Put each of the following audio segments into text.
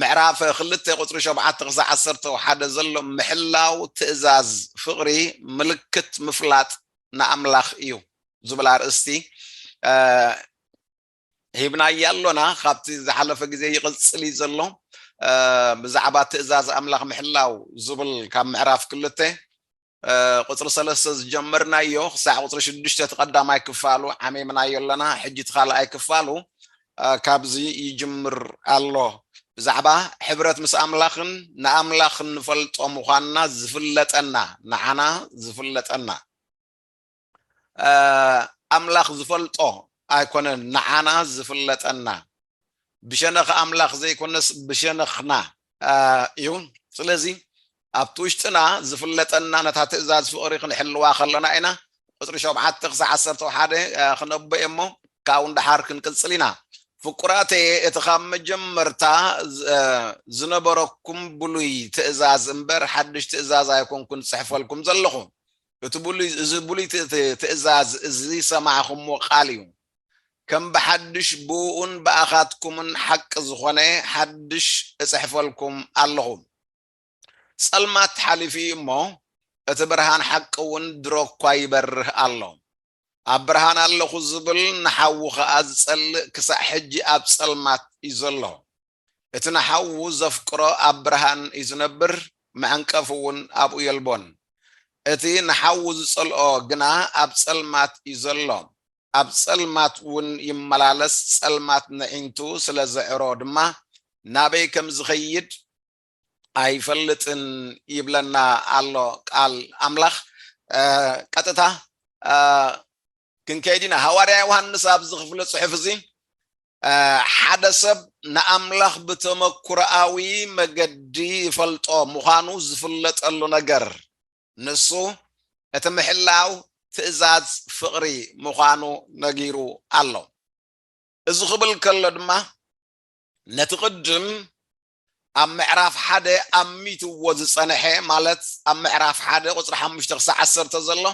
ምዕራፍ ክልተ ቁጽሪ ሸውዓተ ክሳዕ ዓሰርተው ሓደ ዘሎ ምሕላው ትእዛዝ ፍቕሪ ምልክት ምፍላጥ ንኣምላኽ እዩ ዝብል ኣርእስቲ ሂብናያ ኣሎና ካብቲ ዝሓለፈ ግዜ ይቕጽል እዩ ዘሎ ብዛዕባ ትእዛዝ ኣምላኽ ምሕላው ዝብል ካብ ምዕራፍ ክልተ ቁጽሪ ሰለስተ ዝጀመርናዮ ክሳዕ ቁጽሪ ሽዱሽተ እቲ ቀዳማይ ክፋሉ ዓሚምናዮ ኣለና ሕጂ እቲ ካልኣይ ክፋሉ ካብዚ ይጅምር ኣሎ ብዛዕባ ሕብረት ምስ ኣምላኽን ንኣምላኽ ንፈልጦ ምዃንና ዝፍለጠና ንዓና ዝፍለጠና ኣምላኽ ዝፈልጦ ኣይኮነን ንዓና ዝፍለጠና ብሸነኽ ኣምላኽ ዘይኮነስ ብሸነኽና እዩ ስለዚ ኣብቲ ውሽጥና ዝፍለጠና ነታ ትእዛዝ ፍቕሪ ክንሕልዋ ከለና ኢና ቁፅሪ ሸውዓተ ክሳዕ ዓሰርተ ሓደ ክነቦ እሞ ካብኡ ንደሓር ክንቅፅል ኢና ፍቁራተየ እቲ ካብ መጀመርታ ዝነበረኩም ብሉይ ትእዛዝ እምበር ሓድሽ ትእዛዝ ኣይኮንኩን ዝፅሕፈልኩም ዘለኹ እቲ ብሉይ እዚ ብሉይ ት- ት- ትእዛዝ እዚ ዝሰማዕኹምዎ ቃል እዩ ከም ብሓድሽ ብእኡን ብኣኻትኩምን ሓቂ ዝኾነ ሓድሽ እጽሕፈልኩም ኣለኹ ጸልማት ሓሊፉ እዩ እሞ እቲ ብርሃን ሓቂ እውን ድሮ እኳ ይበርህ ኣሎ ኣብ ብርሃን ኣለኹ ዝብል ንሓዉ ኸኣ ዝጸልእ ክሳዕ ሕጂ ኣብ ጸልማት እዩ ዘሎ እቲ ንሓዉ ዘፍቅሮ ኣብ ብርሃን እዩ ዝነብር፣ መዐንቀፊ እውን ኣብኡ የልቦን። እቲ ንሓዉ ዝጸልኦ ግና ኣብ ጸልማት እዩ ዘሎ፣ ኣብ ጸልማት እውን ይመላለስ፣ ጸልማት ነዒንቱ ስለ ዘዕሮ ድማ ናበይ ከም ዝኸይድ ኣይፈልጥን ይብለና ኣሎ ቃል ኣምላኽ። ቀጥታ ክንከይድ ኢና ሃዋርያ ዮሃንስ ኣብዚ ክፍለ ጽሑፍ እዚ ሓደ ሰብ ንኣምላኽ ብተመኩሮኣዊ መገዲ ይፈልጦ ምዃኑ ዝፍለጠሉ ነገር ንሱ እቲ ምሕላው ትእዛዝ ፍቕሪ ምዃኑ ነጊሩ ኣሎ እዚ ክብል ከሎ ድማ ነቲ ቅድም ኣብ ምዕራፍ ሓደ ኣሚትዎ ዝጸንሐ ማለት ኣብ ምዕራፍ ሓደ ቁጽሪ ሓሙሽተ ክሳዕ ዓሰርተ ዘሎ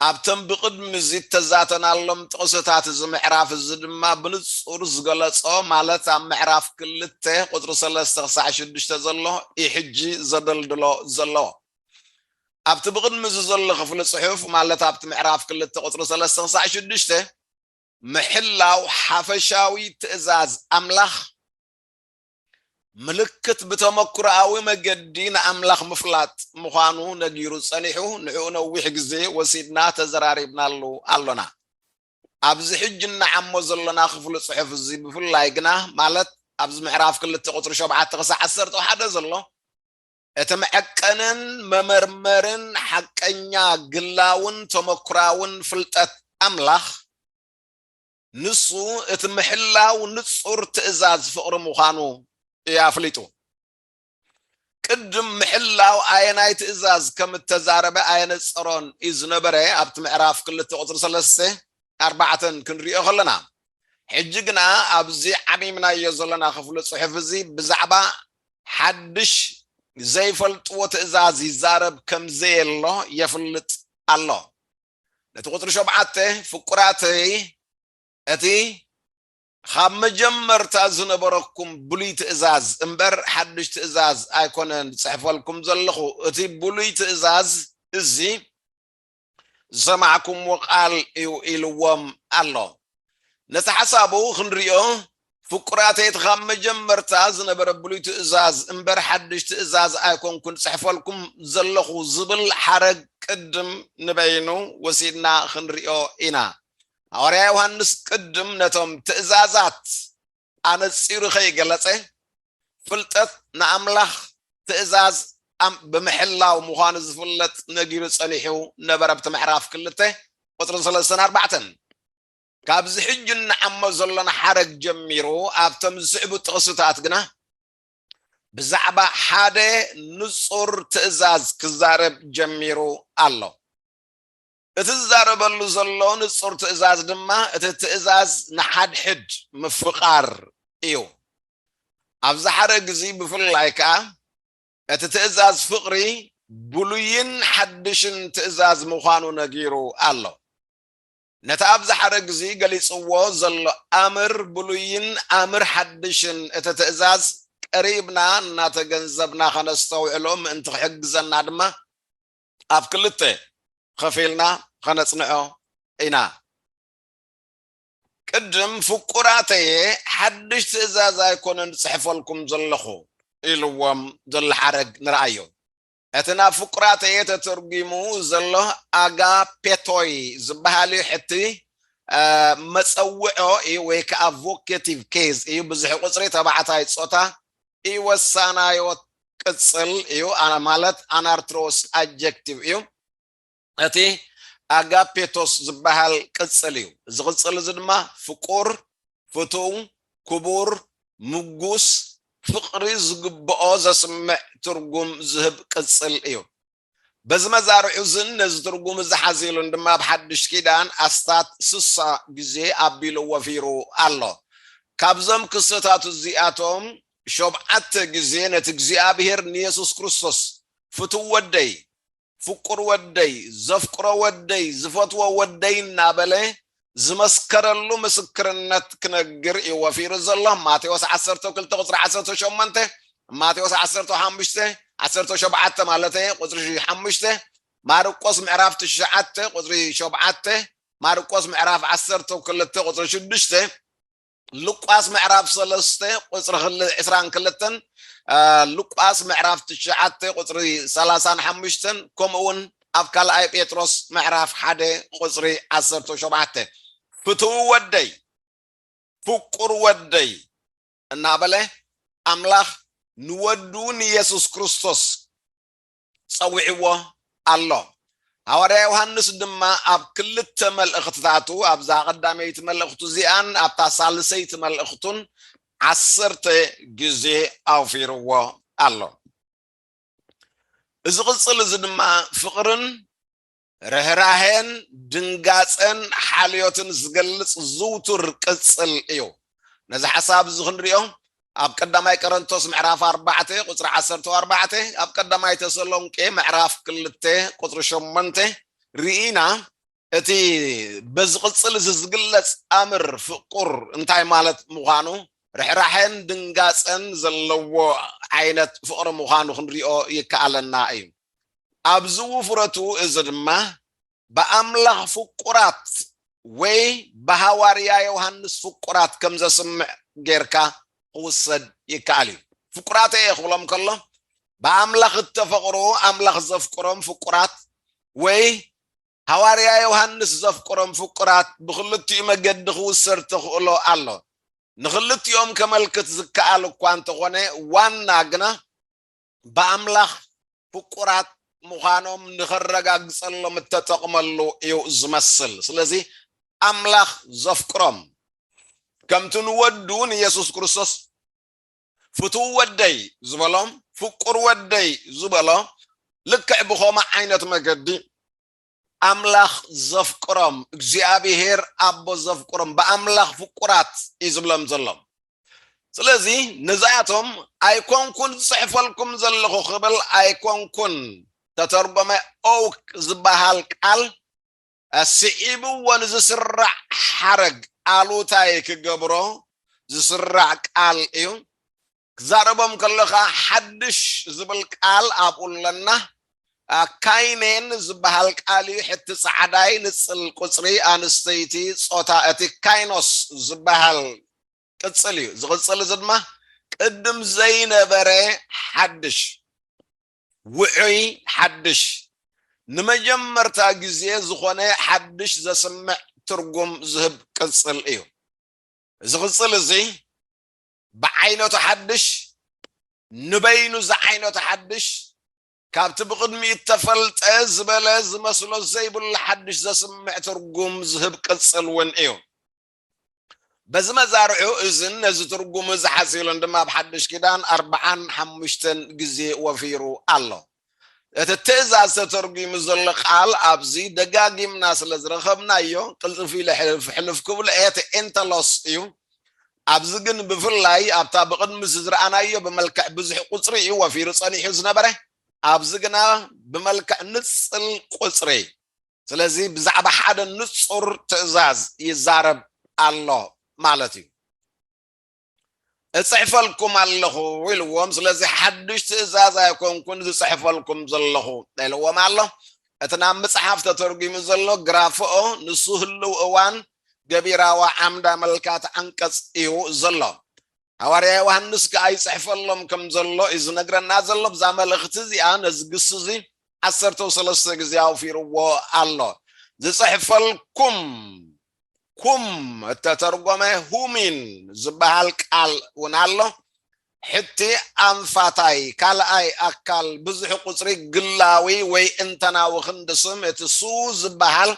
ኣብተን ብቕድሚ እዚ እተዛተናሎም ጥቕስታት እዚ ምዕራፍ እዚ ድማ ብንጹር ዝገለጾ ማለት ኣብ ምዕራፍ ክልተ ቁጽሪ ሰለስተ ክሳዕ ሽዱሽተ ዘሎ ኢዩ ሕጂ ዘደልድሎ ዘለዎ። ኣብቲ ብቕድሚ እዚ ዘሎ ክፍሊ ጽሑፍ ማለት ኣብቲ ምዕራፍ ክልተ ቁጽሪ ሰለስተ ክሳዕ ሽዱሽተ ምሕላው ሓፈሻዊ ትእዛዝ ኣምላኽ ምልክት ብተመክሮኣዊ መገዲ ንኣምላኽ ምፍላጥ ምዃኑ ነጊሩ ጸኒሑ፣ ንዕኡ ነዊሕ ግዜ ወሲድና ተዘራሪብናሉ ኣሎና። ኣብዚ ሕጂ እንዓሞ ዘሎና ክፍሊ ጽሑፍ እዚ ብፍላይ ግና ማለት ኣብዚ ምዕራፍ ክልተ ቁጽሪ ሸውዓተ ክሳዕ ዓሰርተ ሓደ ዘሎ እቲ መዐቀንን መመርመርን ሓቀኛ ግላውን ተመክሮኣውን ፍልጠት ኣምላኽ ንሱ እቲ ምሕላው ንጹር ትእዛዝ ፍቕሪ ምዃኑ እዩ ኣፍሊጡ። ቅድም ምሕላው ኣየናይ ትእዛዝ ከም እተዛረበ ኣየነጸሮን እዩ ዝነበረ፣ ኣብቲ ምዕራፍ ክልተ ቁጽሪ ሰለስተ፣ ኣርባዕተ ክንርእዮ ከለና። ሕጂ ግና ኣብዚ ዓሚምናዮ ዘለና ክፍሊ ጽሑፍ እዚ ብዛዕባ ሓድሽ ዘይፈልጥዎ ትእዛዝ ይዛረብ ከም ዘየሎ የፍልጥ ኣሎ። ነቲ ቁጽሪ ሸውዓተ ፍቁራተይ እቲ ኻብ መጀመርታ ዝነበረኩም ብሉይ ትእዛዝ እምበር ሓድሽ ትእዛዝ ኣይኮነን ዝጽሕፈልኩም ዘለኹ እቲ ብሉይ ትእዛዝ እዚ ዝሰማዕኩምዎ ቃል እዩ ኢልዎም ኣሎ። ነቲ ሓሳቡ ክንሪኦ ፍቁራተይ እቲ ካብ መጀመርታ ዝነበረ ብሉይ ትእዛዝ እምበር ሓድሽ ትእዛዝ ኣይኮንኩን ዝጽሕፈልኩም ዘለኹ ዝብል ሓረግ ቅድም ንበይኑ ወሲድና ክንሪኦ ኢና። ሃዋርያ ዮሃንስ ቅድም ነቶም ትእዛዛት ኣነጺሩ ከይገለጸ ፍልጠት ንኣምላኽ ትእዛዝ ኣም ብምሕላው ምዃኑ ዝፍለጥ ነጊሩ ጸኒሑ ነበረ ኣብቲ ምዕራፍ ክልተ ቁጽሪ ሰለስተን ኣርባዕተን ካብዚ ሕጂ እንዓሞ ዘሎና ሓረግ ጀሚሩ ኣብቶም ዝስዕቡ ጥቕስታት ግና ብዛዕባ ሓደ ንጹር ትእዛዝ ክዛረብ ጀሚሩ ኣሎ። እቲ ዝዛረበሉ ዘሎ ንጹር ትእዛዝ ድማ እቲ ትእዛዝ ንሓድሕድ ምፍቓር እዩ። ኣብዚ ሓረግ እዚ ብፍላይ ከኣ እቲ ትእዛዝ ፍቕሪ ብሉይን ሓድሽን ትእዛዝ ምዃኑ ነጊሩ ኣሎ። ነቲ ኣብ ዝሓረግ'ዚ ገሊጽዎ ዘሎ ኣምር ብሉይን ኣምር ሓድሽን እቲ ትእዛዝ ቀሪብና እናተገንዘብና ከነስተውዕሎ ምእንቲ ክሕግዘና ድማ ኣብ ክልተ ኸፊልና ኸነጽንዖ ኢና። ቅድም ፍቁራተየ ሓድሽ ትእዛዝ ኣይኮነን ዝጽሕፈልኩም ዘለኹ ኢልዎም ዘሎ ሓረግ ንርኣዮ። እቲ ናብ ፍቁራተየ ተተርጒሙ ዘሎ ኣጋፔቶይ ዝበሃል ሕቲ መጸውዖ እዩ ወይ ከዓ ቮኬቲቭ ኬዝ እዩ። ብዝሒ ቁጽሪ ተባዕታይ ጾታ ኢወሳናዮ ቅጽል እዩ ማለት ኣናርትሮስ ኣጀክቲቭ እዩ። እቲ ኣጋፔቶስ ዝበሃል ቅጽል እዩ። እዚ ቅጽል እዚ ድማ ፍቁር፣ ፍቱው፣ ክቡር፣ ምጉስ፣ ፍቕሪ ዝግብኦ ዘስምዕ ትርጉም ዝህብ ቅጽል እዩ። በዚ መዛርዑ እዝን ነዚ ትርጉም እዚ ሓዚሉን ድማ ኣብ ሓድሽ ኪዳን ኣስታት ስሳ ግዜ ኣቢሉ ወፊሩ ኣሎ። ካብዞም ክስተታት እዚኣቶም ሾብዓተ ግዜ ነቲ እግዚኣብሄር ንየሱስ ክርስቶስ ፍቱው ወደይ፣ ፍቁር ወደይ፣ ዘፍቅሮ ወደይ፣ ዝፈትዎ ወደይ እናበለ ዝመስከረሉ ምስክርነት ክነግር እዩ ወፊሩ ዘሎ። ማቴዎስ ዓሰርተ ክልተ ቁፅሪ ዓሰርተ ሸሞንተ ማቴዎስ ዓሰርተ ሓሙሽተ ዓሰርተ ሸብዓተ ማለት ቁፅሪ ሓሙሽተ ማርቆስ ምዕራፍ ትሽዓተ ቁፅሪ ሸብዓተ ማርቆስ ምዕራፍ ዓሰርተ ክልተ ቁፅሪ ሽዱሽተ ሉቃስ ምዕራፍ ሰለስተ ቁፅሪ ዕስራን ክልተን ሉቃስ ምዕራፍ ትሽዓተ ቁፅሪ ሰላሳን ሓሙሽተን ከምኡ እውን ኣብ ካልኣይ ጴጥሮስ ምዕራፍ ሓደ ቁፅሪ ዓሰርተ ሸውዓተ ፍትው ወደይ ፍቁር ወደይ እናበለ ኣምላኽ ንወዱ ንየሱስ ክርስቶስ ጸዊዕዎ ኣሎ። ሃዋርያ ዮሃንስ ድማ ኣብ ክልተ መልእኽትታቱ ኣብዛ ቀዳመይቲ መልእኽቱ እዚኣን ኣብታ ሳልሰይቲ መልእኽቱን ዓሰርተ ግዜ ኣውፊርዎ ኣሎ። እዚ ቅጽል እዚ ድማ ፍቕርን ርህራሄን ድንጋጸን ሓልዮትን ዝገልጽ ዝውቱር ቅጽል እዩ። ነዚ ሓሳብ እዚ ክንሪኦ ኣብ ቀዳማይ ቀረንቶስ ምዕራፍ ኣርባዕተ ቁፅሪ ዓሰርተ ኣርባዕተ ኣብ ቀዳማይ ተሰሎንቄ ምዕራፍ ክልተ ቁፅሪ ሸሞንተ ርኢና እቲ በዚ ቅፅል እዚ ዝግለፅ ኣምር ፍቁር እንታይ ማለት ምዃኑ ርሕራሐን ድንጋፀን ዘለዎ ዓይነት ፍቕሪ ምዃኑ ክንሪኦ ይከኣለና እዩ ኣብዚ ውፍረቱ እዚ ድማ ብኣምላኽ ፍቁራት ወይ ብሃዋርያ ዮሃንስ ፍቁራት ከም ዘስምዕ ጌርካ ክውሰድ ይከኣል እዩ። ፍቁራት እየ ክብሎም ከሎ ብኣምላኽ እተፈቕሩ ኣምላኽ ዘፍቅሮም ፍቁራት ወይ ሃዋርያ ዮሃንስ ዘፍቅሮም ፍቁራት ብክልቲኡ መገዲ ክውሰድ ተኽእሎ ኣሎ። ንክልቲኦም ከመልክት ዝከኣል እኳ እንተኾነ ዋና ግና ብኣምላኽ ፍቁራት ምዃኖም ንኸረጋግጸሎም እተጠቕመሉ እዩ ዝመስል። ስለዚ ኣምላኽ ዘፍቅሮም ከምቲ ንወዱ ንየሱስ ክርስቶስ ፍቱው ወደይ ዝበሎም ፍቁር ወደይ ዝበሎ ልክዕ ብኸምኡ ዓይነት መገዲ ኣምላኽ ዘፍቅሮም እግዚኣብሄር ኣቦ ዘፍቅሮም ብኣምላኽ ፍቁራት እዩ ዝብሎም ዘሎ ስለዚ ነዚኣቶም ኣይኮንኩን ዝጽሕፈልኩም ዘለኹ ክብል ኣይኮንኩን ተተርጎመ ኦውክ ዝበሃል ቃል ስዒብዎ ንዝስራዕ ሓረግ ኣሉታይ ክገብሮ ዝስራዕ ቃል እዩ ክትዛረቦም ከለኻ ሓድሽ ዝብል ቃል ኣብኡ ኣለና ካይኔን ዝበሃል ቃል እዩ ሕቲ ጻዕዳይ ንጽል ቁጽሪ ኣንስተይቲ ጾታ እቲ ካይኖስ ዝበሃል ቅጽል እዩ ዝቕጽል እዚ ድማ ቅድም ዘይነበረ ሓድሽ ውዑይ ሓድሽ ንመጀመርታ ግዜ ዝኾነ ሓድሽ ዘስምዕ ትርጉም ዝህብ ቅጽል እዩ። እዚ ቅጽል እዚ ብዓይነቱ ሓድሽ፣ ንበይኑ ዝዓይነቱ ሓድሽ፣ ካብቲ ብቕድሚኡ እተፈልጠ ዝበለ ዝመስሎ ዘይብሉ ሓድሽ ዘስምዕ ትርጉም ዝህብ ቅጽል ውን እዩ። በዚ መዛርዑ እዝን ነዚ ትርጉም እዚ ሓጺሉን ድማ ኣብ ሓድሽ ኪዳን ኣርብዓን ሓሙሽተን ግዜ ወፊሩ ኣሎ። እቲ ትእዛዝ ተተርጒሙ ዘሎ ቃል ኣብዚ ደጋጊምና ስለ ዝረኸብናዮ ቅልጥፍ ኢለ ሕልፍ ሕልፍ ክብሎ እየ፣ ቴንተሎስ እዩ። ኣብዚ ግን ብፍላይ ኣብታ ብቕድምዚ ዝረኣናዮ ብመልክዕ ብዙሕ ቁጽሪ እዩ ወፊሩ ጸኒሑ ዝነበረ፣ ኣብዚ ግና ብመልክዕ ንጽል ቁጽሪ፣ ስለዚ ብዛዕባ ሓደ ንጹር ትእዛዝ ይዛረብ ኣሎ ማለት እዩ። እጽሕፈልኩም ኣለኹ ኢልዎም ስለዚ ሓድሽ ትእዛዝ ኣይኮንኩን ዝጽሕፈልኩም ዘለኹ ኢልዎም ኣሎ እቲ ናብ ምጽሓፍ ተተርጒሙ ዘሎ ግራፍኦ ንሱ ህልው እዋን ገቢራዋ ዓምዳ መልካት ዓንቀጽ እዩ ዘሎ ሃዋርያ ዮሃንስ ከዓ ይፅሕፈሎም ከም ዘሎ እዩ ዝነግረና ዘሎ ብዛ መልእኽቲ እዚኣ ነዚ ግሲ እዚ ዓሰርተው ሰለስተ ግዜ ኣውፊርዎ ኣሎ ዝፅሕፈልኩም ኩም እተተርጎመ ሁሚን ዝበሃል ቃል እውን ኣሎ። ሕቲ ኣንፋታይ ካልኣይ ኣካል ብዙሕ ቁጽሪ ግላዊ ወይ እንተናዊ ክንዲ ስም እቲ ሱ ዝበሃል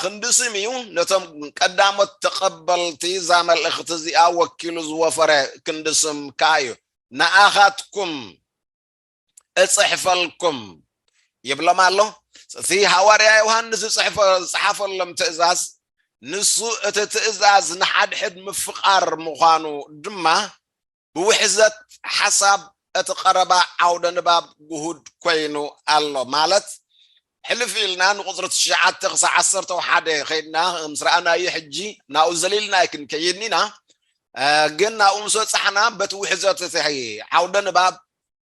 ክንዲ ስም እዩ፣ ነቶም ቀዳሞት ተቐበልቲ እዛ መልእኽቲ እዚኣ ወኪሉ ዝወፈረ ክንዲ ስም ከኣ እዩ። ንኣኻትኩም። እጽሕፈልኩም ይብሎም ኣሎ እቲ ሃዋርያ ዮሃንስ ዝጽሕፈ ዝጽሓፈሎም ትእዛዝ ንሱ እቲ ትእዛዝ ንሓድሕድ ምፍቃር ምዃኑ ድማ ብውሕዘት ሓሳብ እቲ ቀረባ ዓውደ ንባብ ግሁድ ኮይኑ ኣሎ ማለት ሕልፍ ኢልና ንቁፅሪ ትሽዓተ ክሳብ ዓሰርተ ሓደ ከይድና ምስ ረኣናዮ ሕጂ ናብኡ ዘሊልና ኣይክንከይድን ኢና ግን ናብኡ ምስ በፃሕና በቲ ውሕዘት እቲ ዓውደ ንባብ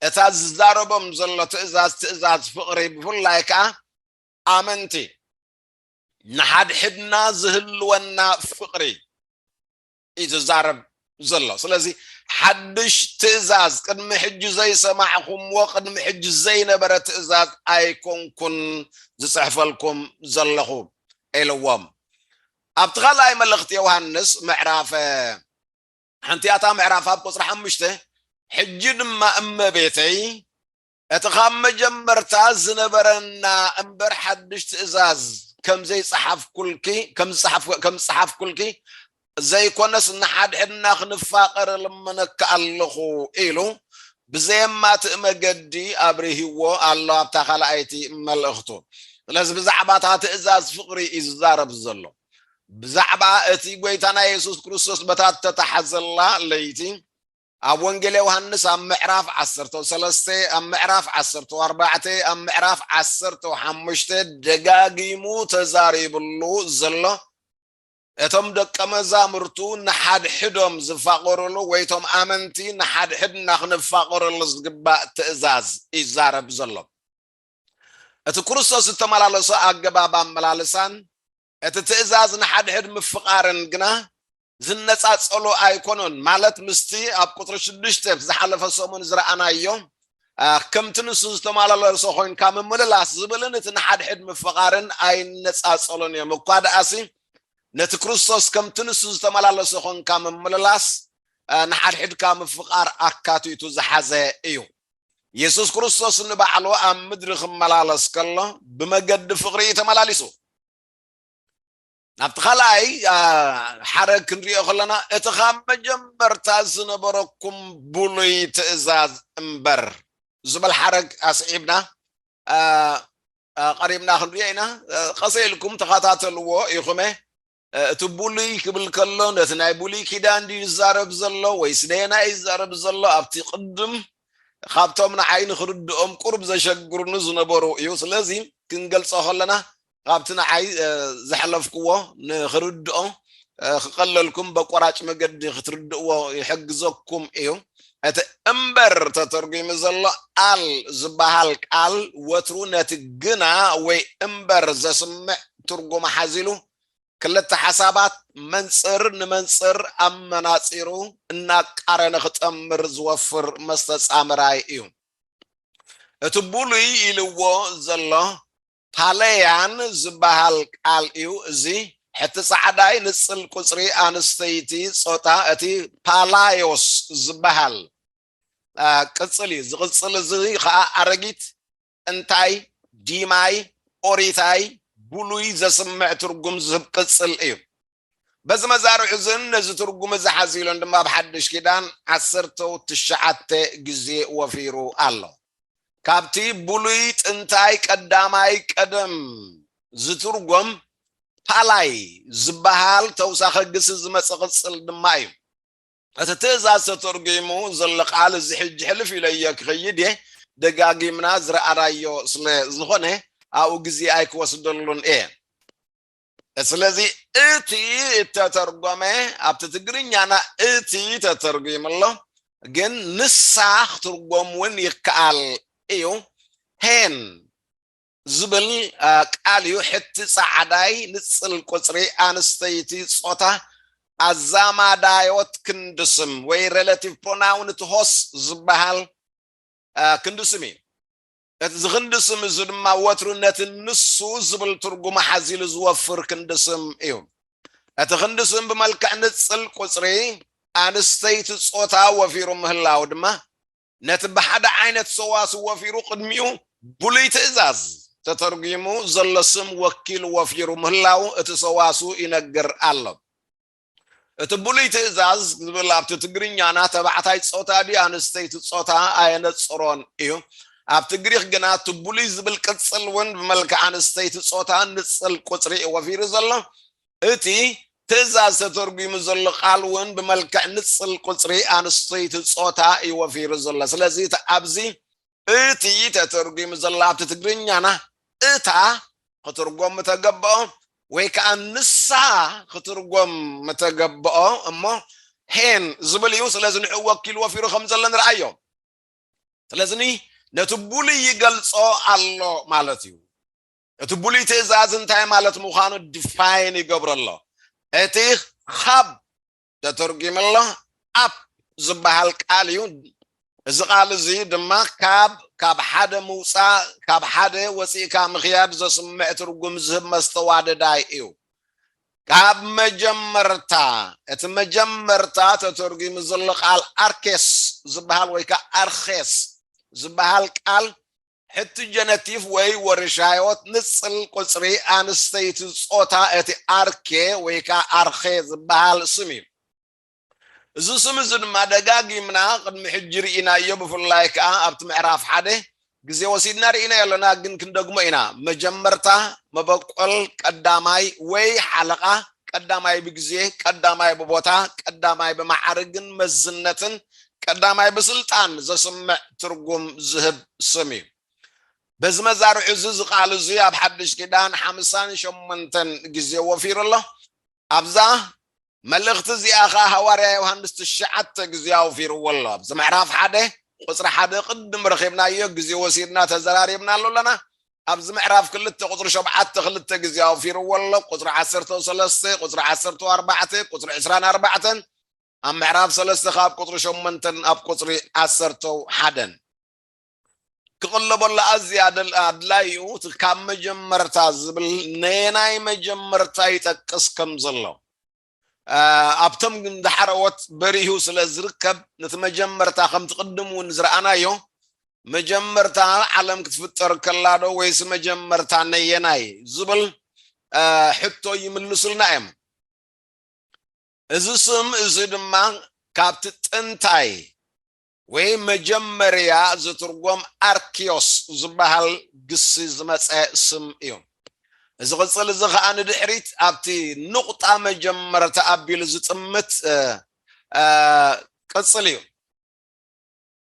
እታ ዝዛረቦም ዘሎ ትእዛዝ ትእዛዝ ፍቕሪ ብፍላይ ከኣ ኣመንቲ ንሓድሕድና ዝህልወና ፍቕሪ እዩ ዝዛረብ ዘሎ ስለዚ ሓድሽ ትእዛዝ ቅድሚ ሕጂ ዘይሰማዕኹምዎ ቅድሚ ሕጂ ዘይነበረ ትእዛዝ ኣይኮንኩን ዝፅሕፈልኩም ዘለኹ ኢልዎም ኣብቲ ካልኣይ መልእኽቲ ዮሃንስ ምዕራፈ ሓንቲኣታ ምዕራፍ ኣብ ቁጽሪ ሓሙሽተ ሕጂ ድማ እመቤተይ እቲ ካብ መጀመርታ ዝነበረና እምበር ሓድሽ ትእዛዝ ከም ዘይጸሓፍኩልኪ ከም ዝጸሓፍ ከም ዝጸሓፍኩልኪ ዘይኮነስ ንሓድሕድና ክንፋቐር እልምነኪ ኣለኹ ኢሉ ብዘየማትእ መገዲ ኣብርሂዎ ኣሎ ኣብታ ካልኣይቲ መልእኽቱ። ስለዚ ብዛዕባ እታ ትእዛዝ ፍቕሪ እዩ ዝዛረብ ዘሎ። ብዛዕባ እቲ ጐይታና የሱስ ክርስቶስ በታ እተታሕዘላ ለይቲ ኣብ ወንጌል ዮሃንስ ኣብ ምዕራፍ ዓሰርተው ሰለስተ ኣብ ምዕራፍ ዓሰርተው ኣርባዕተ ኣብ ምዕራፍ ዓሰርተው ሓሙሽተ ደጋጊሙ ተዛሪብሉ ዘሎ እቶም ደቀ መዛሙርቱ ንሓድሕዶም ዝፋቐሩሉ ወይ እቶም ኣመንቲ ንሓድሕድና ክንፋቐረሉ ዝግባእ ትእዛዝ ይዛረብ ዘሎ እቲ ክርስቶስ እተመላለሶ ኣገባብ ኣመላልሳን እቲ ትእዛዝ ንሓድሕድ ምፍቓርን ግና ዝነጻጸሉ ኣይኰኑን፣ ማለት ምስቲ ኣብ ቍጽሪ ሽዱሽተ ዝሓለፈ ሰሙን ዝረኣናዮ ከምቲ ንሱ ዝተመላለሶ ዀይንካ ምምልላስ ዝብልን እቲ ንሓድሕድ ምፍቓርን ኣይነጻጸሉን እዮም። እኳ ደኣሲ፣ ነቲ ክርስቶስ ከምቲ ንሱ ዝተመላለሶ ዀንካ ምምልላስ ንሓድሕድካ ምፍቓር ኣካቲቱ ዝሓዘ እዩ። የሱስ ክርስቶስ ንባዕሉ ኣብ ምድሪ ክመላለስ ከሎ ብመገዲ ፍቕሪ እዩ ተመላሊሱ ናብቲ ካልኣይ ሓረግ ክንሪኦ ከለና እቲ ካብ መጀመርታ ዝነበረኩም ብሉይ ትእዛዝ እምበር ዝበል ሓረግ ኣስዒብና ቀሪብና ክንሪኦ ኢና ቀሰ ኢልኩም ተኸታተልዎ ኢኹመ እቲ ብሉይ ክብል ከሎ ነቲ ናይ ብሉይ ኪዳን ድዩ ዝዛረብ ዘሎ ወይስ ነየናይ እዩ ዝዛረብ ዘሎ ኣብቲ ቅድም ካብቶም ንዓይ ንክርድኦም ቁሩብ ዘሸግሩኒ ዝነበሩ እዩ ስለዚ ክንገልጾ ከለና ካብቲ ንዓይ ዘሕለፍክዎ ንክርድኦ ክቀለልኩም በቆራጭ መገዲ ክትርድእዎ ይሕግዘኩም እዩ እቲ እምበር ተተርጒሙ ዘሎ ኣል ዝበሃል ቃል ወትሩ ነቲ ግና ወይ እምበር ዘስምዕ ትርጉም ሓዚሉ ክልተ ሓሳባት መንጽር ንመንጽር ኣመናጺሩ እናቃረነ ክጠምር ዝወፍር መስተጻምራይ እዩ። እቲ ብሉይ ኢልዎ ዘሎ ፓለያን ዝበሃል ቃል እዩ። እዚ ሕቲ ጻዕዳይ ንጽል ቁጽሪ ኣንስተይቲ ጾታ እቲ ፓላዮስ ዝበሃል ቅጽል እዩ። እዚ ቅጽል እዚ ከኣ ኣረጊት እንታይ ዲማይ ኦሪታይ ብሉይ ዘስምዕ ትርጉም ዝህብ ቅጽል እዩ። በዚ መዛርዕ እዝን ነዚ ትርጉም እዚ ሓዚሉን ድማ ኣብ ሓድሽ ኪዳን ዓሰርተው ትሽዓተ ግዜ ወፊሩ ኣሎ። ካብቲ ብሉይ ጥንታይ ቀዳማይ ቀደም ዝትርጎም ፓላይ ዝበሃል ተውሳኸ ግሲ ዝመጽ ቅጽል ድማ እዩ። እቲ ትእዛዝ ተተርጒሙ ዘሎ ቃል እዚ ሕጂ ሕልፍ ኢለዮ ክኸይድ እየ፣ ደጋጊምና ዝረኣናዮ ስለ ዝኾነ ኣብኡ ግዜ ኣይክወስደሉን እየ። ስለዚ እቲ እተተርጐመ ኣብቲ ትግርኛና እቲ ተተርጒሙ ኣሎ፣ ግን ንሳ ክትርጐም እውን ይከኣል እዩ። ሄን ዝብል ቃል እዩ። ሕቲ ጻዕዳይ ንጽል ቁጽሪ ኣንስተይቲ ጾታ ኣዛማዳዮት ክንዲ ስም ወይ ሬላቲቭ ፕሮናውን እቲ ሆስ ዝበሃል ክንዲ ስም እዩ። እዚ ክንዲ ስም እዚ ድማ ወትሩ ነቲ ንሱ ዝብል ትርጉም ሓዚሉ ዝወፍር ክንዲ ስም እዩ። እቲ ክንዲ ስም ብመልክዕ ንጽል ቁጽሪ ኣንስተይቲ ጾታ ወፊሩ ምህላው ድማ ነቲ ብሓደ ዓይነት ሰዋስው ወፊሩ ቅድሚኡ ብሉይ ትእዛዝ ተተርጒሙ ዘሎ ስም ወኪል ወፊሩ ምህላዉ እቲ ሰዋስው ይነግር ኣሎ። እቲ ብሉይ ትእዛዝ ዝብል ኣብቲ ትግርኛና ተባዕታይ ጾታ ድዩ ኣንስተይቲ ጾታ ኣየነጽሮን እዩ። ኣብቲ ግሪኽ ግና እቲ ብሉይ ዝብል ቅጽል እውን ብመልክዕ ኣንስተይቲ ጾታ ንጽል ቁጽሪ እዩ ወፊሩ ዘሎ። እቲ ትእዛዝ ተተርጒሙ ዘሎ ቃል እውን ብመልክዕ ንጽል ቁጽሪ ኣንስተይቲ ጾታ እዩ ወፊሩ ዘሎ። ስለዚ እቲ ኣብዚ እቲ ተተርጒሙ ዘሎ ኣብቲ ትግርኛና እታ ክትርጎም ምተገብኦ ወይ ከኣ ንሳ ክትርጎም ምተገብኦ እሞ ሄን ዝብል እዩ። ስለዚ ንዕኡ ወኪሉ ወፊሩ ከም ዘሎ ንርኣዮ። ስለዚ ነቲ ብሉይ ይገልጾ ኣሎ ማለት እዩ። እቲ ብሉይ ትእዛዝ እንታይ ማለት ምዃኑ ድፋይን ይገብሮ ኣሎ እቲ ኻብ ተተርጒሙ ኣሎ ኣፕ ዝበሃል ቃል እዩ እዚ ቃል እዚ ድማ ካብ ካብ ሓደ ምውፃእ ካብ ሓደ ወፂእካ ምክያድ ዘስምዕ ትርጉም ዝህብ መስተዋደዳይ እዩ ካብ መጀመርታ እቲ መጀመርታ ተተርጒሙ ዘሎ ቃል ኣርኬስ ዝበሃል ወይ ከዓ ኣርኬስ ዝበሃል ቃል ሕቲ ጀነቲፍ ወይ ወርሻዮት ንጽል ቁጽሪ ኣንስተይቲ ጾታ እቲ ኣርኬ ወይ ከኣ ኣርኼ ዝበሃል ስም እዩ። እዚ ስም እዚ ድማ ደጋጊምና ቅድሚ ሕጂ ርኢናዮ ብፍላይ ከኣ ኣብቲ ምዕራፍ ሓደ ግዜ ወሲድና ርኢናዮ ኣሎና ግን ክንደግሞ ኢና መጀመርታ መበቆል ቀዳማይ ወይ ሓለቓ ቀዳማይ ብግዜ፣ ቀዳማይ ብቦታ፣ ቀዳማይ ብመዓርግን መዝነትን፣ ቀዳማይ ብስልጣን ዘስምዕ ትርጉም ዝህብ ስም እዩ። በዚ መዛርዑ እዚ እዚ ቃል እዚ ኣብ ሓድሽ ኪዳን ሓምሳን ሸሞንተን ግዜ ወፊሩ ኣሎ። ኣብዛ መልእኽቲ እዚኣ ከኣ ሃዋርያ ዮሃንስ ትሽዓተ ግዜ ኣውፊርዎ ኣሎ። ኣብዚ ምዕራፍ ሓደ ቁጽሪ ሓደ ቅድም ረኺብናዮ ግዜ ወሲድና ተዘራሪብናሉ ኣለና። ኣብዚ ምዕራፍ ክልተ ቁጽሪ ሸውዓተ ክልተ ግዜ ኣውፊርዎ ኣሎ፣ ቁጽሪ ዓሰርተው ሰለስተ፣ ቁጽሪ ዓሰርተው ኣርባዕተ፣ ቁጽሪ ዕስራን ኣርባዕተን፣ ኣብ ምዕራፍ ሰለስተ ካብ ቁጽሪ ሸሞንተን ኣብ ቁጽሪ ዓሰርተው ሓደን። ክቕለበሉ ኣዝዩ ኣደል ኣድላይኡ እቲ ካብ መጀመርታ ዝብል ነየናይ መጀመርታ ይጠቅስ ከም ዘሎ ኣብቶም ንሓረዎት በሪሁ ስለ ዝርከብ ነቲ መጀመርታ ከምቲ ቅድም እውን ዝረኣናዮ መጀመርታ ዓለም ክትፍጠር ከላዶ ወይስ መጀመርታ ነየናይ ዝብል ሕቶ ይምልሱልና እዮም እዚ ስም እዚ ድማ ካብቲ ጥንታይ ወይ መጀመርያ ዝትርጎም ኣርኪዮስ ዝበሃል ግሲ ዝመጸ ስም እዩ። እዚ ቅጽል እዚ ከኣ ንድሕሪት ኣብቲ ንቑጣ መጀመርታ ኣቢሉ ዝጥምት ቅጽል እዩ።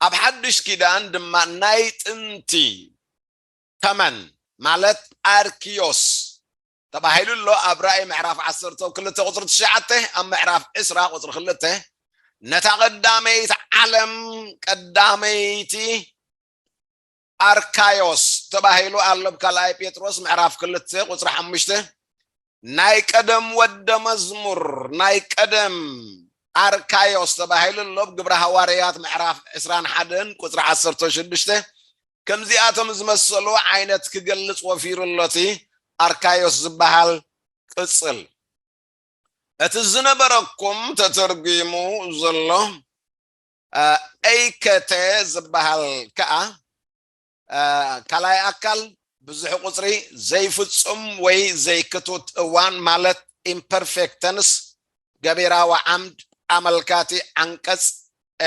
ኣብ ሓድሽ ኪዳን ድማ ናይ ጥንቲ ተመን ማለት ኣርኪዮስ ተባሂሉ ኣሎ ኣብ ራእይ ምዕራፍ ዓሰርተው ክልተ ቁፅሪ ትሽዓተ ኣብ ምዕራፍ ዕስራ ቁፅሪ ክልተ ነታ ቀዳመይቲ ዓለም ቀዳመይቲ ኣርካዮስ ተባሂሉ ኣሎ ብ ካልኣይ ጴጥሮስ ምዕራፍ ክልተ ቁፅሪ ሓሙሽተ ናይ ቀደም ወደ መዝሙር ናይ ቀደም ኣርካዮስ ተባሂሉ ኣሎ ብ ግብረ ሃዋርያት ምዕራፍ ዕስራን ሓደን ቁፅሪ ዓሰርተ ሽዱሽተ ከምዚኣቶም ዝመሰሉ ዓይነት ክገልጽ ወፊሩ ኣሎ እቲ ኣርካዮስ ዝበሃል ቅጽል። እቲ ዝነበረኩም ተተርጒሙ ዘሎ ኤይከተ ዝበሃል ከኣ ካልኣይ ኣካል ብዙሕ ቁጽሪ ዘይፍጹም ወይ ዘይክቱት እዋን ማለት ኢምፐርፌክት ተንስ ገቢራዊ ዓምድ ኣመልካቲ ዓንቀጽ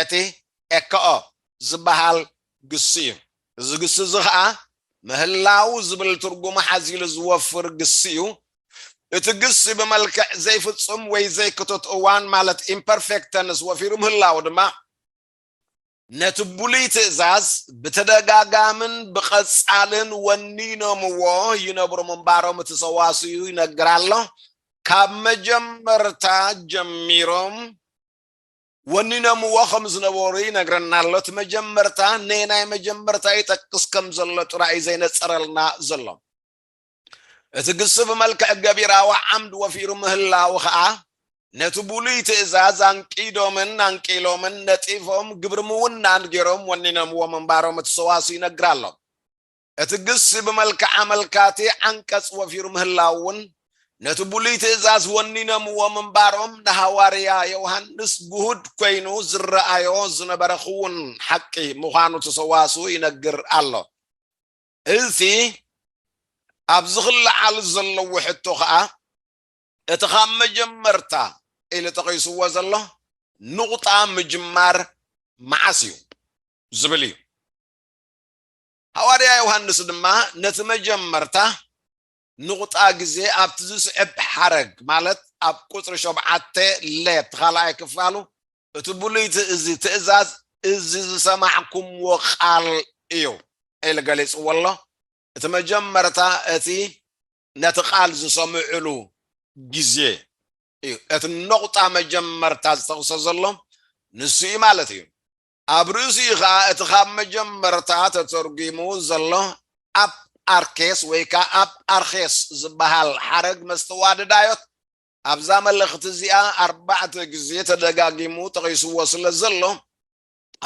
እቲ ኤከኦ ዝበሃል ግሲ እዩ። እዚ ግሲ እዚ ኸኣ ምህላው ዝብል ትርጉም ሓዚሉ ዝወፍር ግሲ እዩ። እቲ ግሲ ብመልክዕ ዘይፍጹም ወይ ዘይክቱት እዋን ማለት ኢምፐርፌክት ተንስ ወፊሩ ምህላው ድማ፣ ነቲ ብሉይ ትእዛዝ ብተደጋጋምን ብቐጻልን ወኒኖምዎ ይነብሩ ምንባሮም እቲ ሰዋስዩ ይነግር ኣሎ። ካብ መጀመርታ ጀሚሮም። ወኒኖምዎ ከም ዝነበሩ ይነግረና ኣሎ። እቲ መጀመርታ ነየናይ መጀመርታ ይጠቅስ ከም ዘሎ ጥራይ እዩ ዘይነጸረልና ዘሎ። እቲ ግሲ ብመልክዕ ገቢራዊ ዓምድ ወፊሩ ምህላዉ ከኣ ነቲ ብሉይ ትእዛዝ ኣንቂዶምን ኣንቂሎምን ነጢፎም ግብሪ ምውናን ገይሮም ወኒኖምዎ ምንባሮም እቲ ሰዋስው ይነግር ኣሎ። እቲ ግሲ ብመልክዕ ኣመልካቲ ዓንቀጽ ወፊሩ ምህላዉን ነቲ ብሉይ ትእዛዝ ወኒነምዎ ምንባሮም ንሃዋርያ ዮውሃንስ ግሁድ ኰይኑ ዝረኣዮ ዝነበረ ክዉን ሓቂ ምዃኑ እቲ ሰዋስው ይነግር ኣሎ። እቲ ኣብዚ ክለዓል ዘለዎ ሕቶ ከኣ እቲ ካብ መጀመርታ ኢሉ ጠቒስዎ ዘሎ ንቑጣ ምጅማር መዓስ እዩ ዝብል እዩ። ሃዋርያ ዮሃንስ ድማ ነቲ መጀመርታ ንቑጣ ግዜ ኣብቲ ዝስዕብ ሓረግ ማለት ኣብ ቁጽሪ ሾብዓተ ለ እቲ ካልኣይ ክፋሉ እቲ ብሉይ ትእዝ ትእዛዝ እዚ ዝሰማዕኩምዎ ቃል እዩ ኢሉ ገሊጽዎ ኣሎ እቲ መጀመርታ እቲ ነቲ ቃል ዝሰምዕሉ ግዜ እዩ እቲ ኖቑጣ መጀመርታ ዝጠቕሶ ዘሎ ንሱ እዩ ማለት እዩ ኣብ ርእሲኡ ከኣ እቲ ካብ መጀመርታ ተተርጒሙ ዘሎ ኣፕ ኣርኬስ ወይ ከኣ ኣፕ ኣርኼስ ዝበሃል ሓረግ መስተዋድዳዮት ኣብዛ መልእኽቲ እዚኣ ኣርባዕተ ግዜ ተደጋጊሙ ጠቒስዎ ስለ ዘሎ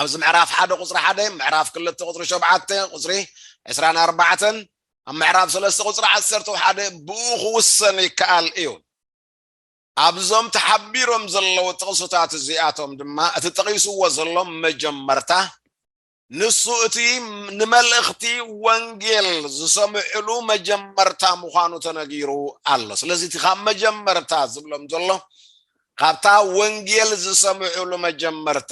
ኣብዚ ምዕራፍ ሓደ ቁፅሪ ሓደ ምዕራፍ ክልተ ቁፅሪ ሸብዓተ ቁፅሪ ዕስራን ኣርባዕተን ኣብ ምዕራፍ ሰለስተ ቁፅሪ ዓሰርተ ሓደ ብኡ ክውሰን ይከኣል እዩ ኣብዞም ተሓቢሮም ዘለዉ ጥቕስታት እዚኣቶም ድማ እቲ ጠቒስዎ ዘሎ መጀመርታ ንሱ እቲ ንመልእኽቲ ወንጌል ዝሰምዕሉ መጀመርታ ምዃኑ ተነጊሩ ኣሎ። ስለዚ እቲ ካብ መጀመርታ ዝብሎም ዘሎ ካብታ ወንጌል ዝሰምዕሉ መጀመርታ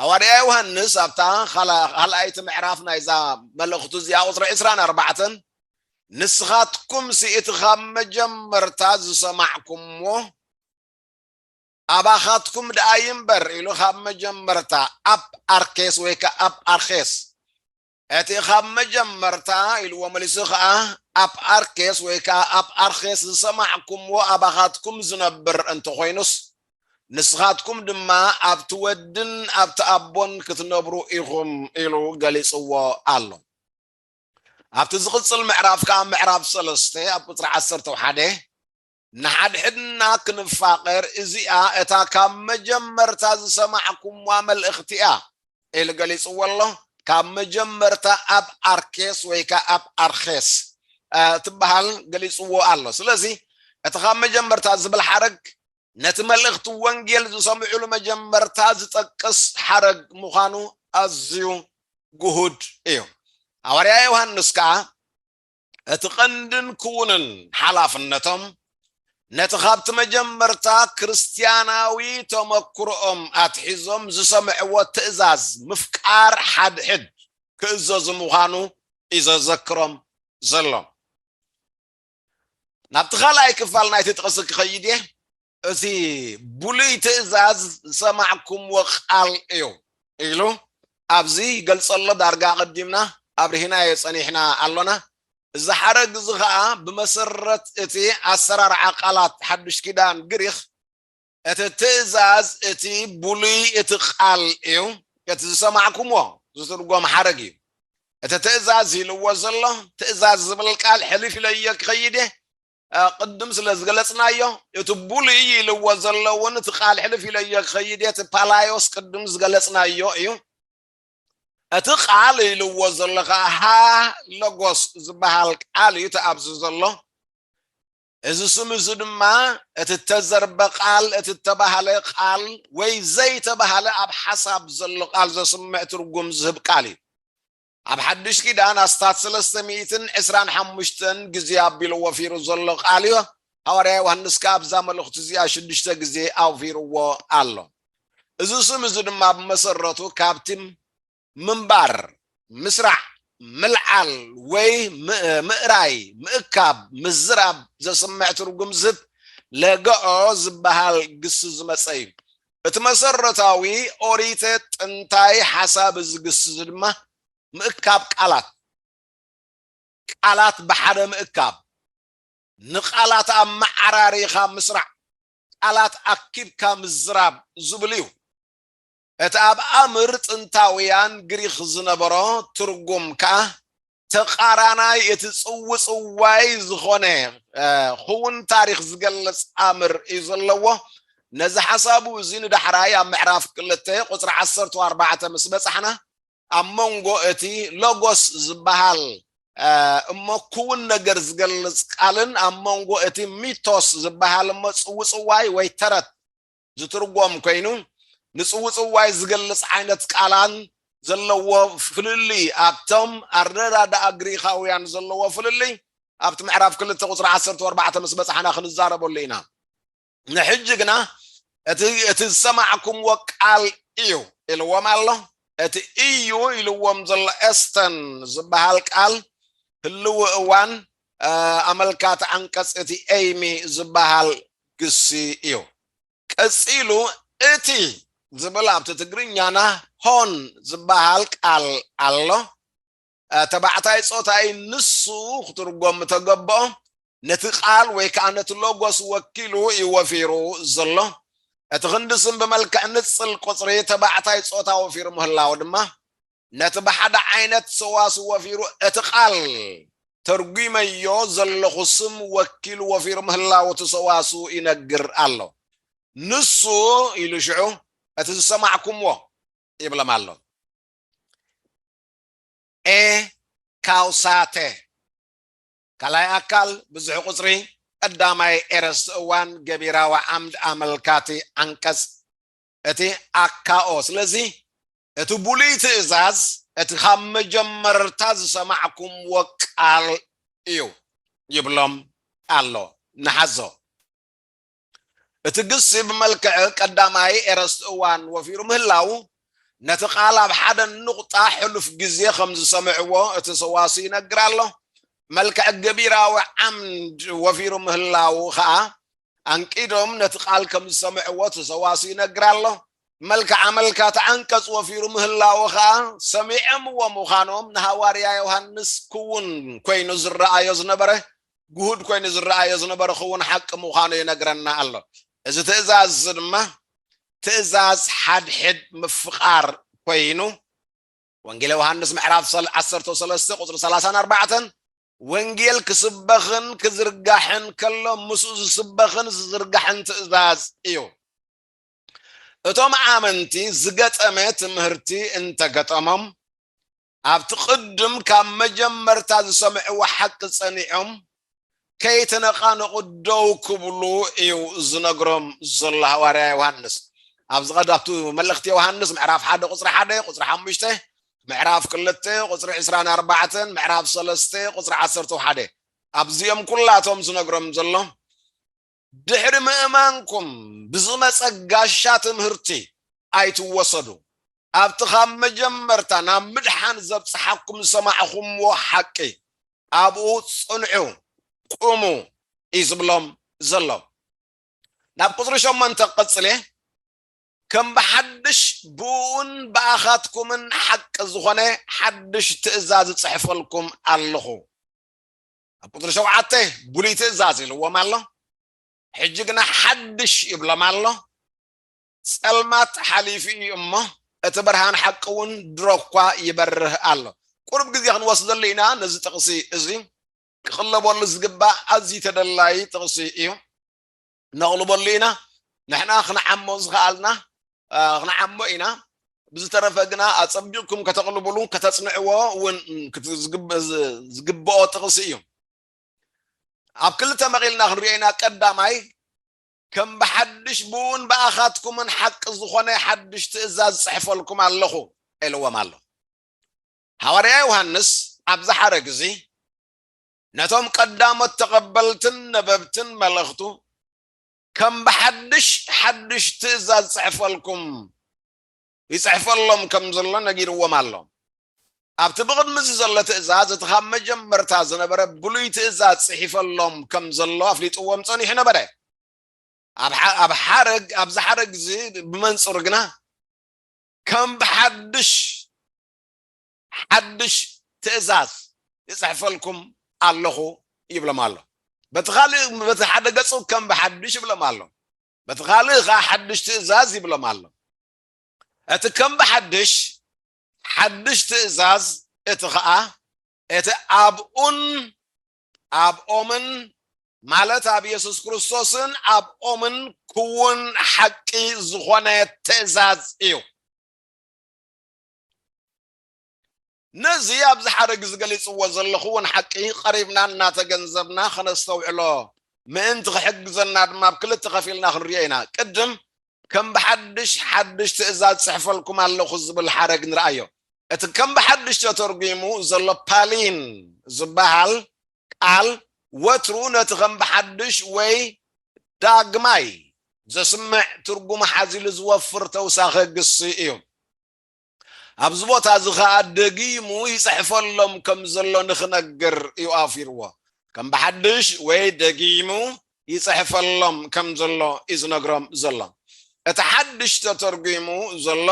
ሃዋርያ ዮሃንስ ኣብታ ኻልኣይቲ ምዕራፍ ናይዛ መልእኽቱ እዚኣ ቁፅሪ ዕስራን ኣርባዕተን ንስኻትኩምሲ እቲ ኻብ መጀመርታ ዝሰማዕኩምዎ ኣባኻትኩም ደኣ ይንበር ኢሉ ኻብ መጀመርታ ኣብ ኣርኬስ ወይ ከዓ ኣብ ኣርኬስ እቲ ኻብ መጀመርታ፣ ኢልዎ መሊሱ ኸኣ፣ ኣፕ ኣርኬስ ወይ ከኣ ኣፕ ኣርኼስ ዝሰማዕኩምዎ ኣባኻትኩም ዚነብር እንተ ዀይኑስ፣ ንስኻትኩም ድማ ኣብቲ ወድን ኣብቲ ኣቦን ክትነብሩ ኢኹም ኢሉ ገሊጽዎ ኣሎ። ኣብቲ ዚቕጽል ምዕራፍ ከኣ ምዕራፍ ሰለስተ ኣብ ቍጽሪ ዓሰርተው ሓደ፣ ንሓድሕድና ክንፋቐር እዚኣ እታ ካብ መጀመርታ ዝሰማዕኩምዋ መልእኽቲ እያ ኢሉ ገሊጽዎ ኣሎ። ካብ መጀመርታ ኣብ ኣርኬስ ወይ ከ ኣብ ኣርኼስ ትበሃል ገሊጽዎ ኣሎ። ስለዚ እቲ ካብ መጀመርታ ዝብል ሓረግ ነቲ መልእኽቲ ወንጌል ዝሰምዑሉ መጀመርታ ዝጠቅስ ሓረግ ምዃኑ ኣዝዩ ግሁድ እዩ። ሃዋርያ ዮሃንስ ከኣ እቲ ቀንድን ክዉንን ሓላፍነቶም ነቲ ካብቲ መጀመርታ ክርስትያናዊ ተመክሮኦም ኣትሒዞም ዝሰምዕዎ ትእዛዝ ምፍቃር ሓድሕድ ክእዘዙ ምዃኑ እዩ ዘዘክሮም ዘሎ። ናብቲ ካልኣይ ክፋል ናይቲ ጥቕሲ ክኸይድ እየ። እቲ ብሉይ ትእዛዝ ዝሰማዕኩምዎ ቃል እዩ ኢሉ ኣብዚ ይገልጸሎ ዳርጋ ኣቐዲምና ኣብርሂናዮ ጸኒሕና ኣሎና። እዚ ሓረግ እዚ ኸኣ ብመሰረት እቲ ኣሰራርዓ ቃላት ሓድሽ ኪዳን ግሪኽ እቲ ትእዛዝ እቲ ብሉይ እቲ ቃል እዩ እቲ ዝሰማዕኩምዎ ዝትርጎም ሓረግ እዩ። እቲ ትእዛዝ ኢልዎ ዘሎ ትእዛዝ ዝብል ቃል ሕልፍ ኢለዮ ክኸይድ እየ ቅድም ስለ ዝገለጽናዮ እቲ ብሉይ ኢልዎ ዘሎ እውን እቲ ቃል ሕልፍ ኢለዮ ክኸይድ እቲ ፓላዮስ ቅድም ዝገለጽናዮ እዩ እቲ ቃል ኢልዎ ዘሎ ከዓ ሃ ሎጎስ ዝበሃል ቃል እዩ እቲ ኣብዚ ዘሎ እዚ ስም እዚ ድማ እቲ እተዘርበ ቃል እቲ እተባህለ ቃል ወይ ዘይተባህለ ኣብ ሓሳብ ዘሎ ቃል ዘስምዕ ትርጉም ዝህብ ቃል እዩ ኣብ ሓድሽ ኪዳን ኣስታት ሰለስተ ሚእትን ዕስራን ሓሙሽተን ግዜ ኣቢሉ ወፊሩ ዘሎ ቃል እዩ። ሃዋርያ ዮሃንስ ከኣ ኣብዛ መልእኽቱ እዚኣ ሽዱሽተ ግዜ ኣውፊርዎ ኣሎ። እዚ ስም እዚ ድማ ብመሰረቱ ካብቲ ምንባር፣ ምስራዕ፣ ምልዓል ወይ ምእራይ፣ ምእካብ፣ ምዝራብ ዘስምዕ ትርጉም ዝህብ ለገኦ ዝበሃል ግሲ ዝመጸ እዩ። እቲ መሰረታዊ ኦሪተ ጥንታይ ሓሳብ እዚ ግስዚ ድማ ምእካብ ቃላት፣ ቃላት ብሓደ ምእካብ፣ ንቃላት ኣመዓራሪኻ ምስራዕ፣ ቃላት ኣኪብካ ምዝራብ ዝብል እዩ። እቲ ኣብ ኣምር ጥንታውያን ግሪኽ ዝነበሮ ትርጉም ከኣ ተቃራናይ እቲ ጽውጽዋይ ዝኾነ ክውን ታሪኽ ዝገልጽ ኣምር እዩ ዘለዎ ነዚ ሓሳቡ እዚ ንዳሕራይ ኣብ ምዕራፍ ክልተ ቁፅሪ ዓሰርተ ኣርባዕተ ምስ በጻሕና ኣብ መንጎ እቲ ሎጎስ ዝበሃል እሞ ክውን ነገር ዝገልጽ ቃልን ኣብ መንጎ እቲ ሚቶስ ዝበሃል እሞ ጽውጽዋይ ወይ ተረት ዝትርጎም ኮይኑ ንጽውጽዋይ ዝገልጽ ዓይነት ቃላን ዘለዎ ፍልልይ ኣብቶም ኣረዳድኣ ግሪኻውያን ዘለዎ ፍልልይ ኣብቲ ምዕራፍ ክልተ ቁፅሪ ዓሰርተ ኣርባዕተ ምስ በፃሕና ክንዛረበሉ ኢና ንሕጂ ግና እቲ እቲ ዝሰማዕኩምዎ ቃል እዩ ኢልዎም ኣሎ እቲ እዩ ኢልዎም ዘሎ ኤስተን ዝበሃል ቃል ህልው እዋን ኣመልካቲ ዓንቀጽ እቲ ኤይሚ ዝበሃል ግሲ እዩ። ቀጺሉ እቲ ዝብል ኣብቲ ትግርኛና ሆን ዝበሃል ቃል ኣሎ። ተባዕታይ ጾታ'ዩ ንሱ ክትርጎም ምተገብኦ፣ ነቲ ቃል ወይ ከኣ ነቲ ሎጎስ ወኪሉ እዩ ወፊሩ ዘሎ። እቲ ክንዲ ስም ብመልክዕ ንጽል ቁጽሪ ተባዕታይ ጾታ ወፊሩ ምህላዉ ድማ ነቲ ብሓደ ዓይነት ሰዋስው ወፊሩ እቲ ቃል ተርጒመዮ ዘለኹ ስም ወኪሉ ወፊሩ ምህላዉ እቲ ሰዋስው ይነግር ኣሎ። ንሱ ኢሉ ሽዑ እቲ ዝሰማዕኩምዎ ይብሎም ኣሎ። a ካውሳተ ካልኣይ ኣካል ብዙሕ ቁጽሪ ቀዳማይ ኤረስቲ እዋን ገቢራዊ ዓምድ ኣመልካቲ ዓንቀጽ እቲ ኣካኦ ስለዚ እቲ ብሉይ ትእዛዝ እቲ ኻብ መጀመርታ ዝሰማዕኩምዎ ቃል እዩ ይብሎም ኣሎ። ንሓዞ። እቲ ግሲ ብመልክዕ ቀዳማይ ኤረስት እዋን ወፊሩ ምህላዉ፣ ነቲ ቃል ኣብ ሓደ ኑቕጣ ሕሉፍ ግዜ ኸም ዝሰምዕዎ እቲ ሰዋስው ይነግር ኣሎ። መልክዕ ገቢራዊ ዓምድ ወፊሩ ምህላዉ ኸኣ፣ ኣንቂዶም ነቲ ቃል ከም ዝሰምዕዎ እቲ ሰዋስው ይነግር ኣሎ። መልክዓ መልካት ዓንቀጽ ወፊሩ ምህላወ ከኣ ሰሚዐምዎ ምዃኖም ንሃዋርያ ዮሃንስ ክዉን ኮይኑ ዝረኣዮ ዝነበረ ግሁድ ኮይኑ ዝረኣዮ ዝነበረ ክዉን ሓቂ ምዃኑ ይነግረና ኣሎ። እዚ ትእዛዝ እዚ ድማ ትእዛዝ ሓድሕድ ምፍቃር ኮይኑ ወንጌል ዮሃንስ ምዕራፍ ሰል ዓሰርተው ሰለስተ ቁጽሪ ሰላሳን ኣርባዕተን ወንጌል ክስበኽን ክዝርጋሕን ከሎ ምስኡ ዝስበኽን ዝዝርጋሕን ትእዛዝ እዩ። እቶም ኣመንቲ ዝገጠመ ትምህርቲ እንተገጠሞም ኣብቲ ቅድም ካብ መጀመርታ ዝሰምዕዎ ሓቂ ጸኒዖም ከይተነቓነቑ ደው ክብሉ እዩ ዝነግሮም ዘሎ ሃዋርያ ዮሃንስ ኣብዚ ቀዳብቱ መልእኽቲ ዮሃንስ ምዕራፍ ሓደ ቁፅሪ ሓደ ቁፅሪ ሓሙሽተ ምዕራፍ ክልተ ቁፅሪ ዕስራን ኣርባዕተን ምዕራፍ ሰለስተ ቁፅሪ ዓሰርተ ሓደ ኣብዚኦም ኩላቶም ዝነግሮም ዘሎ ድሕሪ ምእማንኩም ብዝመጸ ጋሻ ትምህርቲ ኣይትወሰዱ። ኣብቲ ኻብ መጀመርታ ናብ ምድሓን ዘብጽሓኩም ዝሰማዕኹምዎ ሓቂ ኣብኡ ጽንዑ፣ ቁሙ እዩ ዝብሎም ዘሎ። ናብ ቁጽሪ ሸሞንተ ቀጽሌ ከም ብሓድሽ ብእኡን ብኣኻትኩምን ሓቂ ዝኾነ ሓድሽ ትእዛዝ እጽሕፈልኩም ኣለኹ። ኣብ ቁፅሪ ሸውዓተ ብሉይ ትእዛዝ ኢልዎም ኣሎ ሕጂ ግና ሓድሽ ይብሎም ኣሎ ጸልማት ሓሊፉ እዩ እሞ እቲ ብርሃን ሓቂ እውን ድሮ እኳ ይበርህ ኣሎ ቁርብ ግዜ ክንወስደሉ ኢና ነዚ ጥቕሲ እዚ ክቕለበሉ ዝግባእ ኣዝዩ ተደላዪ ጥቕሲ እዩ ነቕልበሉ ኢና ንሕና ክንዓሞ ዝኸኣልና ክንዓሞ ኢና ብዝተረፈ ግና ኣጸቢቕኩም ከተቕልብሉ ከተጽንዕዎ እውን ዝግብኦ ጥቕሲ እዩ ኣብ ክልተ መቒልና ክንሪኦ ኢና ቀዳማይ ከም ብሓድሽ ብኡን ብኣኻትኩምን ሓቂ ዝኾነ ሓድሽ ትእዛዝ ጽሕፈልኩም ኣለኹ ኢልዎም ኣሎ ሃዋርያ ዮሃንስ ኣብ ዝሓረግ እዚ ነቶም ቀዳሞት ተቐበልትን ነበብትን መልእኽቱ ከም ብሓድሽ ሓድሽ ትእዛዝ ጽሕፈልኩም ይጽሕፈሎም ከም ዘሎ ነጊርዎም ኣሎ። ኣብቲ ብቕድሚ እዚ ዘሎ ትእዛዝ እቲ ኻብ መጀመርታ ዝነበረ ብሉይ ትእዛዝ ጽሒፈሎም ከም ዘሎ ኣፍሊጥዎም ጸኒሑ ነበረ። ኣብ ሓረግ ኣብዚ ሓረግ እዚ ብመንጽሩ ግና ከም ብሓድሽ ሓድሽ ትእዛዝ እጽሕፈልኩም ኣሎኹ ይብሎም ኣሎ። በቲ ኻልእ በቲ ሓደ ገጹ ከም ብሓድሽ ይብሎም ኣሎ። በቲ ኻልእ ኸኣ ሓድሽ ትእዛዝ ይብሎም ኣሎ። እቲ ከም ብሓድሽ ሓድሽ ትእዛዝ እቲ ኸኣ እቲ ኣብኡን ኣብኦምን ማለት ኣብ የሱስ ክርስቶስን ኣብኦምን ክውን ሓቂ ዝኾነ ትእዛዝ እዩ። ነዚ ኣብዚ ሓረግ ዝገሊጽዎ ዘለኹ እውን ሓቂ ቀሪብና እናተገንዘብና ከነስተውዕሎ ምእንቲ ክሕግዘና ድማ ኣብ ክልተ ከፊልና ክንሪኦ ኢና። ቅድም ከም ብሓድሽ ሓድሽ ትእዛዝ ጽሕፈልኩም ኣለኹ ዝብል ሓረግ ንርኣዮ። እቲ ከም ብሓድሽ ተተርጒሙ ዘሎ ፓሊን ዝበሃል ቃል ወትሩ ነቲ ከም ብሓድሽ ወይ ዳግማይ ዘስምዕ ትርጉም ሓዚሉ ዝወፍር ተውሳኸ ግሲ እዩ። ኣብዚ ቦታ እዚ ከኣ ደጊሙ ይጽሕፈሎም ከም ዘሎ ንክነግር እዩ ኣውፊርዎ። ከም ብሓድሽ ወይ ደጊሙ ይጽሕፈሎም ከም ዘሎ እዩ ዝነግሮም ዘሎ። እቲ ሓድሽ ተተርጒሙ ዘሎ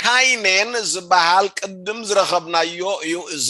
ካይኔን ዝበሃል ቅድም ዝረኸብናዮ እዩ እዚ።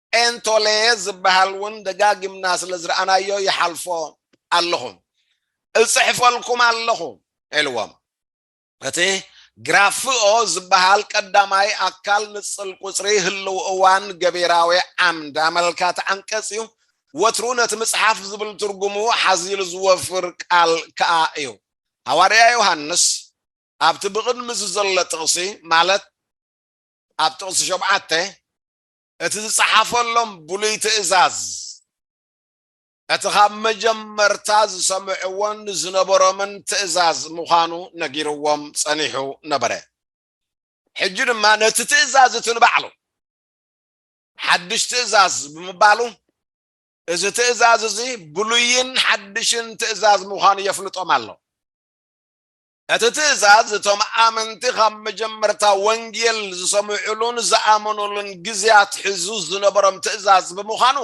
ኤንቶሌየ ዝበሃል እውን ደጋጊምና ስለ ዝረኣናዮ ይሓልፎ ኣለኹ፣ እጽሕፈልኩም ኣለኹ ኢልዎም። እቲ ግራፍኦ ዝበሃል ቀዳማይ ኣካል ንጽል ቁጽሪ ህልው እዋን ገቢራዊ ዓምድ ኣመልካቲ ዓንቀጽ እዩ፣ ወትሩ ነቲ ምጽሓፍ ዝብል ትርጉሙ ሓዚሉ ዝወፍር ቃል ከኣ እዩ። ሃዋርያ ዮሃንስ ኣብቲ ብቕድሚ እዚ ዘሎ ጥቕሲ ማለት ኣብ ጥቕሲ ሸውዓተ፣ እቲ ዝጸሓፈሎም ብሉይ ትእዛዝ፣ እቲ ኻብ መጀመርታ ዝሰምዕዎን ዝነበሮምን ትእዛዝ ምዃኑ ነጊርዎም ጸኒሑ ነበረ። ሕጂ ድማ ነቲ ትእዛዝ እቲ ንባዕሉ፣ ሓድሽ ትእዛዝ ብምባሉ፣ እዚ ትእዛዝ እዚ ብሉይን ሓድሽን ትእዛዝ ምዃኑ የፍልጦም ኣሎ። እቲ ትእዛዝ እቶም ኣመንቲ ኻብ መጀመርታ ወንጌል ዝሰምዑሉን ዝኣመኑሉን ግዜ ኣትሒዙ ዝነበሮም ትእዛዝ ብምዃኑ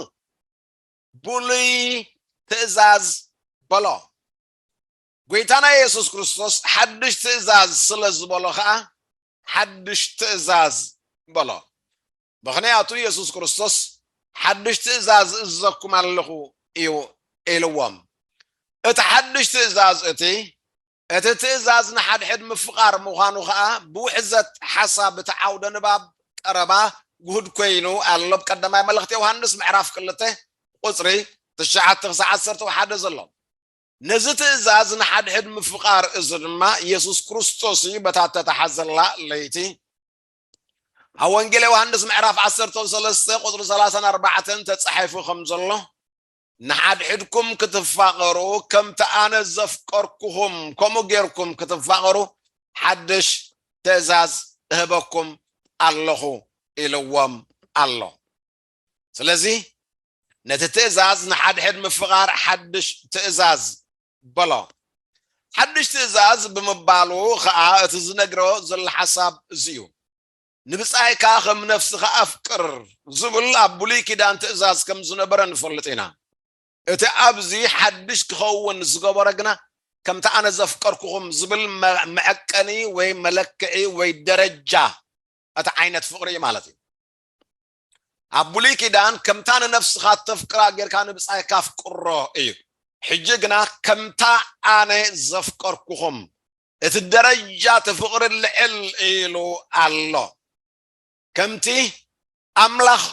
ብሉይ ትእዛዝ በሎ። ጐይታና የሱስ ክርስቶስ ሓድሽ ትእዛዝ ስለ ዝበሎ ኸኣ ሓድሽ ትእዛዝ በሎ። ምኽንያቱ የሱስ ክርስቶስ ሓድሽ ትእዛዝ እእዝዘኩም ኣለኹ እዩ ኢልዎም። እቲ ሓድሽ ትእዛዝ እቲ እቲ ትእዛዝ ንሓድሕድ ምፍቓር ምዃኑ ኸኣ ብውሕዘት ሓሳብ እቲ ዓውደ ንባብ ቀረባ ግሁድ ኮይኑ ኣሎ ኣብ ቀዳማይ መልእኽቲ ዮሃንስ ምዕራፍ ክልተ ቁጽሪ ትሽዓተ ክሳዕ ዓሰርተ ሓደ ዘሎ ነዚ ትእዛዝ ንሓድሕድ ምፍቓር እዚ ድማ የሱስ ክርስቶስ እዩ በታ እተተሓዘላ ለይቲ ኣብ ወንጌል ዮሃንስ ምዕራፍ ዓሰርተን ሰለስተ ቁፅሪ ሰላሳን ኣርባዕተን ተፃሒፉ ከም ዘሎ ንሓድሕድኩም ክትፋቐሩ ከምቲ ኣነ ዘፍቀርኩኹም ከምኡ ጌርኩም ክትፋቐሩ ሓድሽ ትእዛዝ እህበኩም ኣለኹ ኢልዎም ኣሎ። ስለዚ ነቲ ትእዛዝ ንሓድሕድ ምፍቓር ሓድሽ ትእዛዝ በሎ። ሓድሽ ትእዛዝ ብምባሉ ኸኣ እቲ ዝነግሮ ዘሎ ሓሳብ እዚ እዩ፣ ንብጻይካ ኸም ነፍስኻ ኣፍቅር ዝብል ኣብ ብሉይ ኪዳን ትእዛዝ ከም ዝነበረ ንፈልጥ ኢና። እቲ ኣብዚ ሓድሽ ክኸውን ዝገበሮ ግና ከምቲ ኣነ ዘፍቀርኩኹም ዝብል መዐቀኒ ወይ መለክዒ ወይ ደረጃ እቲ ዓይነት ፍቕሪ እዩ ማለት እዩ። ኣብ ብሉይ ኪዳን ከምታ ንነፍስኻ እተፍቅራ ጌርካ ንብጻይካ ኣፍቅሮ እዩ። ሕጂ ግና ከምታ ኣነ ዘፍቀርኩኹም እቲ ደረጃ እቲ ፍቕሪ ልዕል ኢሉ ኣሎ። ከምቲ ኣምላኽ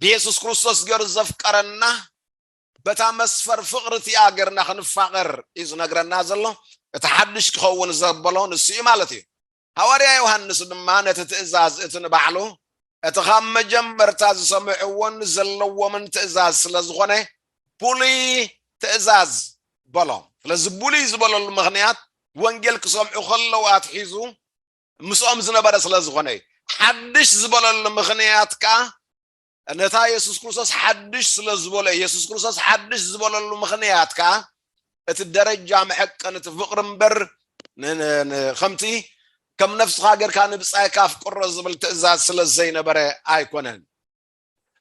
ብየሱስ ክርስቶስ ገይሩ ዘፍቀረና በታ መስፈር ፍቕሪ እቲኣ ገርና ክንፋቐር እዩ ዝነግረና ዘሎ። እቲ ሓድሽ ክኸውን ዘበሎ ንሱ እዩ ማለት እዩ። ሃዋርያ ዮሃንስ ድማ ነቲ ትእዛዝ እቲ ንባዕሉ እቲ ኻብ መጀመርታ ዝሰምዕዎን ዘለዎምን ትእዛዝ ስለ ዝኾነ ብሉይ ትእዛዝ በሎ። ስለዚ ብሉይ ዝበለሉ ምኽንያት ወንጌል ክሰምዑ ከለዉ ኣትሒዙ ምስኦም ዝነበረ ስለ ዝኾነ እዩ። ሓድሽ ዝበለሉ ምኽንያት ከኣ ነታ የሱስ ክርስቶስ ሓድሽ ስለ ዝበሎ የሱስ ክርስቶስ ሓድሽ ዝበለሉ ምኽንያት ከዓ እቲ ደረጃ መሐቀን እቲ ፍቅሪ እምበር ከምቲ ከም ነፍስኻ ጌርካ ንብጻይካ ኣፍቅሮ ዝብል ትእዛዝ ስለ ዘይነበረ ኣይኮነን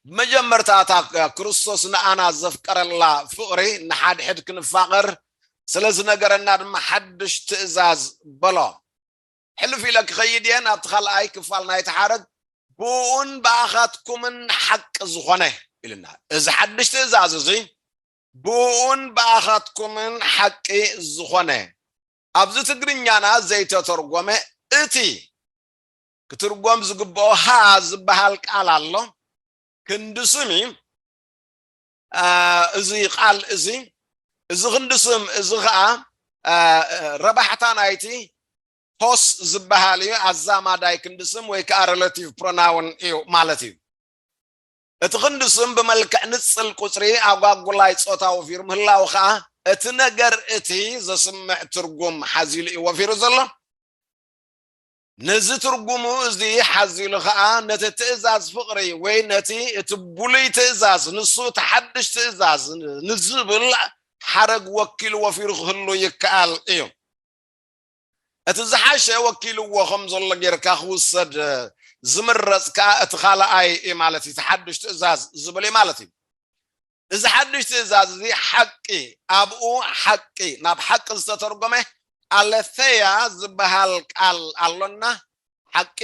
ብመጀመርታ እታ ክርስቶስ ንኣና ዘፍቀረላ ፍቅሪ ንሓድሕድ ክንፋቀር ስለ ዝነገረና ድማ ሓድሽ ትእዛዝ በሎ ሕልፍ ኢለ ክኸይድ እየ ናብቲ ካልኣይ ክፋል ናይቲ ሓረግ፣ ብእኡን ብኣኻትኩምን ሓቂ ዝኾነ ኢሉና። እዚ ሓድሽ ትእዛዝ እዚ ብእኡን ብኣኻትኩምን ሓቂ ዝኾነ ኣብዚ ትግርኛና ዘይተተርጎመ እቲ ክትርጎም ዝግብኦ ሃ ዝበሃል ቃል ኣሎ ክንዲ ስም እዩ። እዚ ቃል እዚ እዚ ክንዲ ስም እዚ ከዓ ረባሕታ ናይቲ ሆስ ዝበሃል እዩ ኣዛማዳይ ክንዲ ስም ወይ ከዓ ሬላቲቭ ፕሮናውን እዩ ማለት እዩ እቲ ክንዲ ስም ብመልክዕ ንፅል ቁፅሪ ኣጓጉላይ ፆታዊ ወፊሩ ምህላው ከዓ እቲ ነገር እቲ ዘስምዕ ትርጉም ሓዚሉ እዩ ወፊሩ ዘሎ ነዚ ትርጉሙ እዚ ሓዚሉ ኸኣ ነቲ ትእዛዝ ፍቕሪ ወይ ነቲ እቲ ብሉይ ትእዛዝ ንሱ እቲ ሓድሽ ትእዛዝ ንዝብል ሓረግ ወኪሉ ወፊሩ ክህሉ ይከኣል እዩ። እቲ ዝሓሸ ወኪልዎ ከም ዘሎ ጌርካ ክውሰድ ዝምረጽ ከኣ እቲ ካልኣይ እዩ ማለት እዩ፣ እቲ ሓድሽ ትእዛዝ ዝብል እዩ ማለት እዩ። እዚ ሓድሽ ትእዛዝ እዚ ሓቂ ኣብኡ ሓቂ ናብ ሓቂ ዝተተርጎመ ኣለተያ ዝበሃል ቃል ኣሎና ሓቂ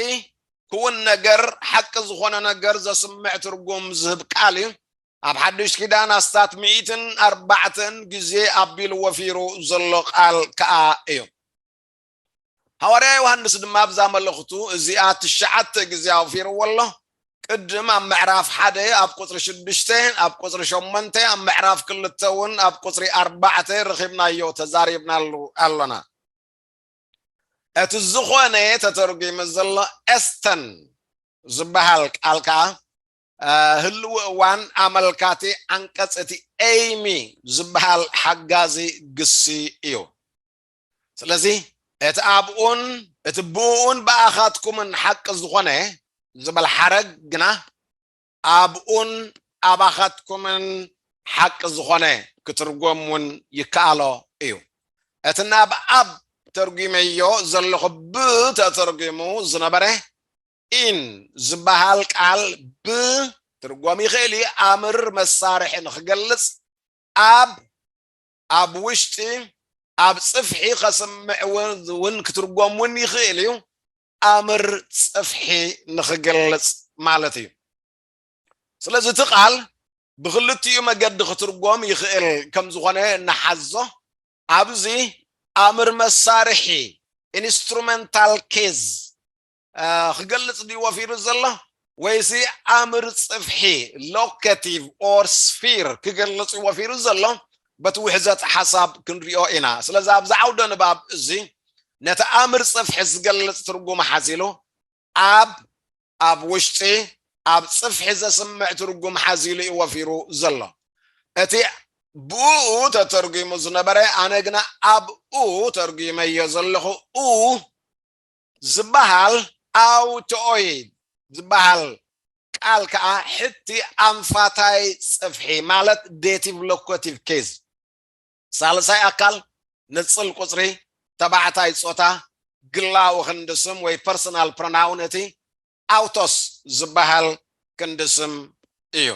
ክውን ነገር ሓቂ ዝኾነ ነገር ዘስምዕ ትርጉም ዝህብ ቃል እዩ ኣብ ሓድሽ ኪዳን ኣስታት ሚእትን ኣርባዕተን ግዜ ኣቢሉ ወፊሩ ዘሎ ቃል ከዓ እዩ ሃዋርያ ዮሃንስ ድማ ኣብዛ መልእኽቱ እዚኣ ትሽዓተ ግዜ ኣውፊርዎ ኣሎ። ቅድም ኣብ ምዕራፍ ሓደ ኣብ ቁጽሪ ሽዱሽተ ኣብ ቁጽሪ ሸሞንተ ኣብ ምዕራፍ ክልተ እውን ኣብ ቁጽሪ ኣርባዕተ ረኺብናዮ ተዛሪብናሉ ኣሎና። እቲ ዝኾነ ተተርጒሙ ዘሎ ኤስተን ዝበሃል ቃል ከዓ ህልዊ እዋን ኣመልካቲ ዓንቀጽ እቲ ኤይሚ ዝበሃል ሓጋዚ ግሲ እዩ። ስለዚ እቲ ኣብኡን እቲ ብእኡን ብኣኻትኩምን ሓቂ ዝኾነ ዝበል ሓረግ ግና ኣብኡን ኣባኻትኩምን ሓቂ ዝኾነ ክትርጎም እውን ይከኣሎ እዩ። እቲ ናብ ኣብ ተርጒመዮ ዘለኹ ብ ተተርጒሙ ዝነበረ ኢን ዝበሃል ቃል ብ ትርጎም ይኽእል እዩ ኣምር መሳርሒ ንክገልጽ ኣብ ኣብ ውሽጢ ኣብ ጽፍሒ ከስምዕ ውን ክትርጎም ውን ይኽእል እዩ ኣምር ጽፍሒ ንኽገልጽ ማለት እዩ ስለዚ እቲ ቃል ብክልቲኡ መገዲ ክትርጎም ይኽእል ከም ዝኾነ ንሓዞ ኣብዚ ኣምር መሳርሒ ኢንስትሩመንታል ኬዝ ክገልጽ ድዩ ወፊሩ ዘሎ ወይሲ ኣምር ጽፍሒ ሎከቲቭ ኦር ስፊር ክገልጽ እዩ ወፊሩ ዘሎ በቲ ውሕዘት ሓሳብ ክንሪኦ ኢና ስለዚ ኣብዚ ዓውደ ንባብ እዚ ነቲ ኣምር ጽፍሒ ዝገልጽ ትርጉም ሓዚሉ ኣብ ኣብ ውሽጢ ኣብ ጽፍሒ ዘስምዕ ትርጉም ሓዚሉ እዩ ወፊሩ ዘሎ እቲ ብኡ ተተርጒሙ ዝነበረ ኣነ ግና ኣብኡ ተርጒመዮ ዘለኹ ኡ ዝበሃል ኣውትኦይድ ዝበሃል ቃል ከኣ ሕቲ ኣንፋታይ ጽፍሒ ማለት ዴቲቭ ሎኮቲቭ ኬዝ ሳልሳይ ኣካል ንጽል ቁጽሪ ተባዕታይ ጾታ ግላዊ ክንዲ ስም ወይ ፐርሰናል ፕሮናውን እቲ ኣውቶስ ዝበሃል ክንዲ ስም እዩ።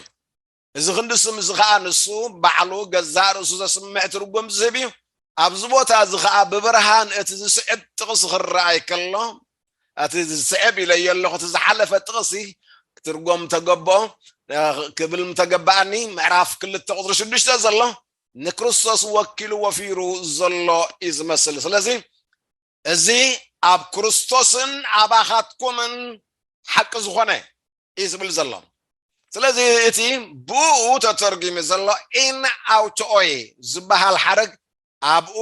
እዚ ክንዲ ስም እዚ ኸኣ ንሱ ባዕሉ ገዛእ ርእሱ ዘስምዕ ትርጉም ዝህብ እዩ። ኣብዚ ቦታ እዚ ኸኣ ብብርሃን እቲ ዝስዕብ ጥቕሲ ክረኣይ ከሎ እቲ ዝስዕብ ኢለዮ ኣለኹ እቲ ዝሓለፈ ጥቕሲ ክትርጎም ተገብኦ ክብል ምተገባኣኒ ምዕራፍ ክልተ ቁፅሪ ሽዱሽተ ዘሎ ንክርስቶስ ወኪሉ ወፊሩ ዘሎ እዩ ዝመስል ስለዚ እዚ ኣብ ክርስቶስን ኣባኻትኩምን ሓቂ ዝኾነ እዩ ዝብል ዘሎ ስለዚ እቲ ብኡ ተተርጊሙ ዘሎ ኢን ኣውቶኦይ ዝበሃል ሓረግ ኣብኡ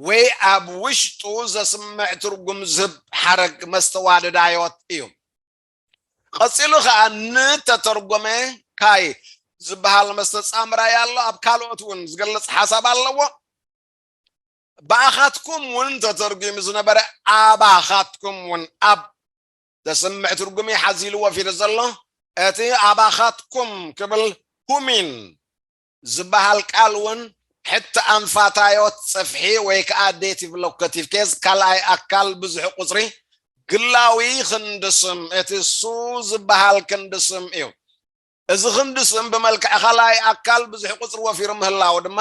ወይ ኣብ ውሽጡ ዘስምዕ ትርጉም ዝህብ ሓረግ መስተዋደዳዮት እዩ ቐጺሉ ኸኣ ንተተርጎመ ካይ ዝበሃል መስተጻምራይ ኣሎ ኣብ ካልኦት እውን ዝገልጽ ሓሳብ ኣለዎ ብኣኻትኩም እውን ተተርጒሙ ዝነበረ ኣባኻትኩም እውን ኣብ ዘስምዕ ትርጉም እዩ ሓዚሉ ወፊሩ ዘሎ እቲ ኣባኻትኩም ክብል ሁሚን ዝበሃል ቃል እውን ሕቲ ኣንፋታዮት ጽፍሒ ወይ ከዓ ዴቲቭ ሎከቲቭ ኬዝ ካልኣይ ኣካል ብዙሕ ቁፅሪ ግላዊ ክንዲ ስም እቲ ሱ ዝበሃል ክንዲ ስም እዩ እዚ ክንዲ ስም ብመልክዕ ኻልኣይ ኣካል ብዙሕ ቁጽሪ ወፊሩ ምህላዉ ድማ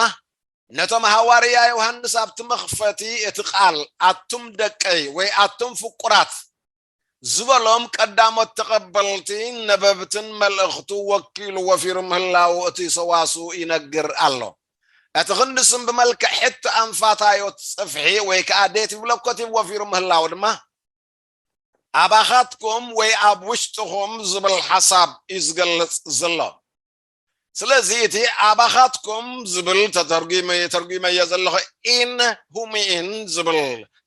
ነቶም ሃዋርያ ዮሃንስ ኣብቲ መኽፈቲ እቲ ቃል ኣቱም ደቀይ ወይ ኣቱም ፍቁራት ዝበሎም ቀዳሞት ተቐበልቲ ነበብትን መልእኽቱ ወኪሉ ወፊሩ ምህላዉ እቲ ሰዋስው ይነግር ኣሎ። እቲ ክንዲ ስም ብመልክዕ ሕቶ ኣንፋታዮት ጽፍሒ ወይ ከኣ ዴቲቭ ሎኮቲቭ ወፊሩ ምህላዉ ድማ፣ ኣባኻትኩም ወይ ኣብ ውሽጥኹም ዝብል ሓሳብ እዩ ዝገልጽ ዘሎ ስለዚ እቲ ኣባኻትኩም ዝብል ተተርጉመ ተርጉመዮ ዘለኹ ኢን ሁሚኢን ዝብል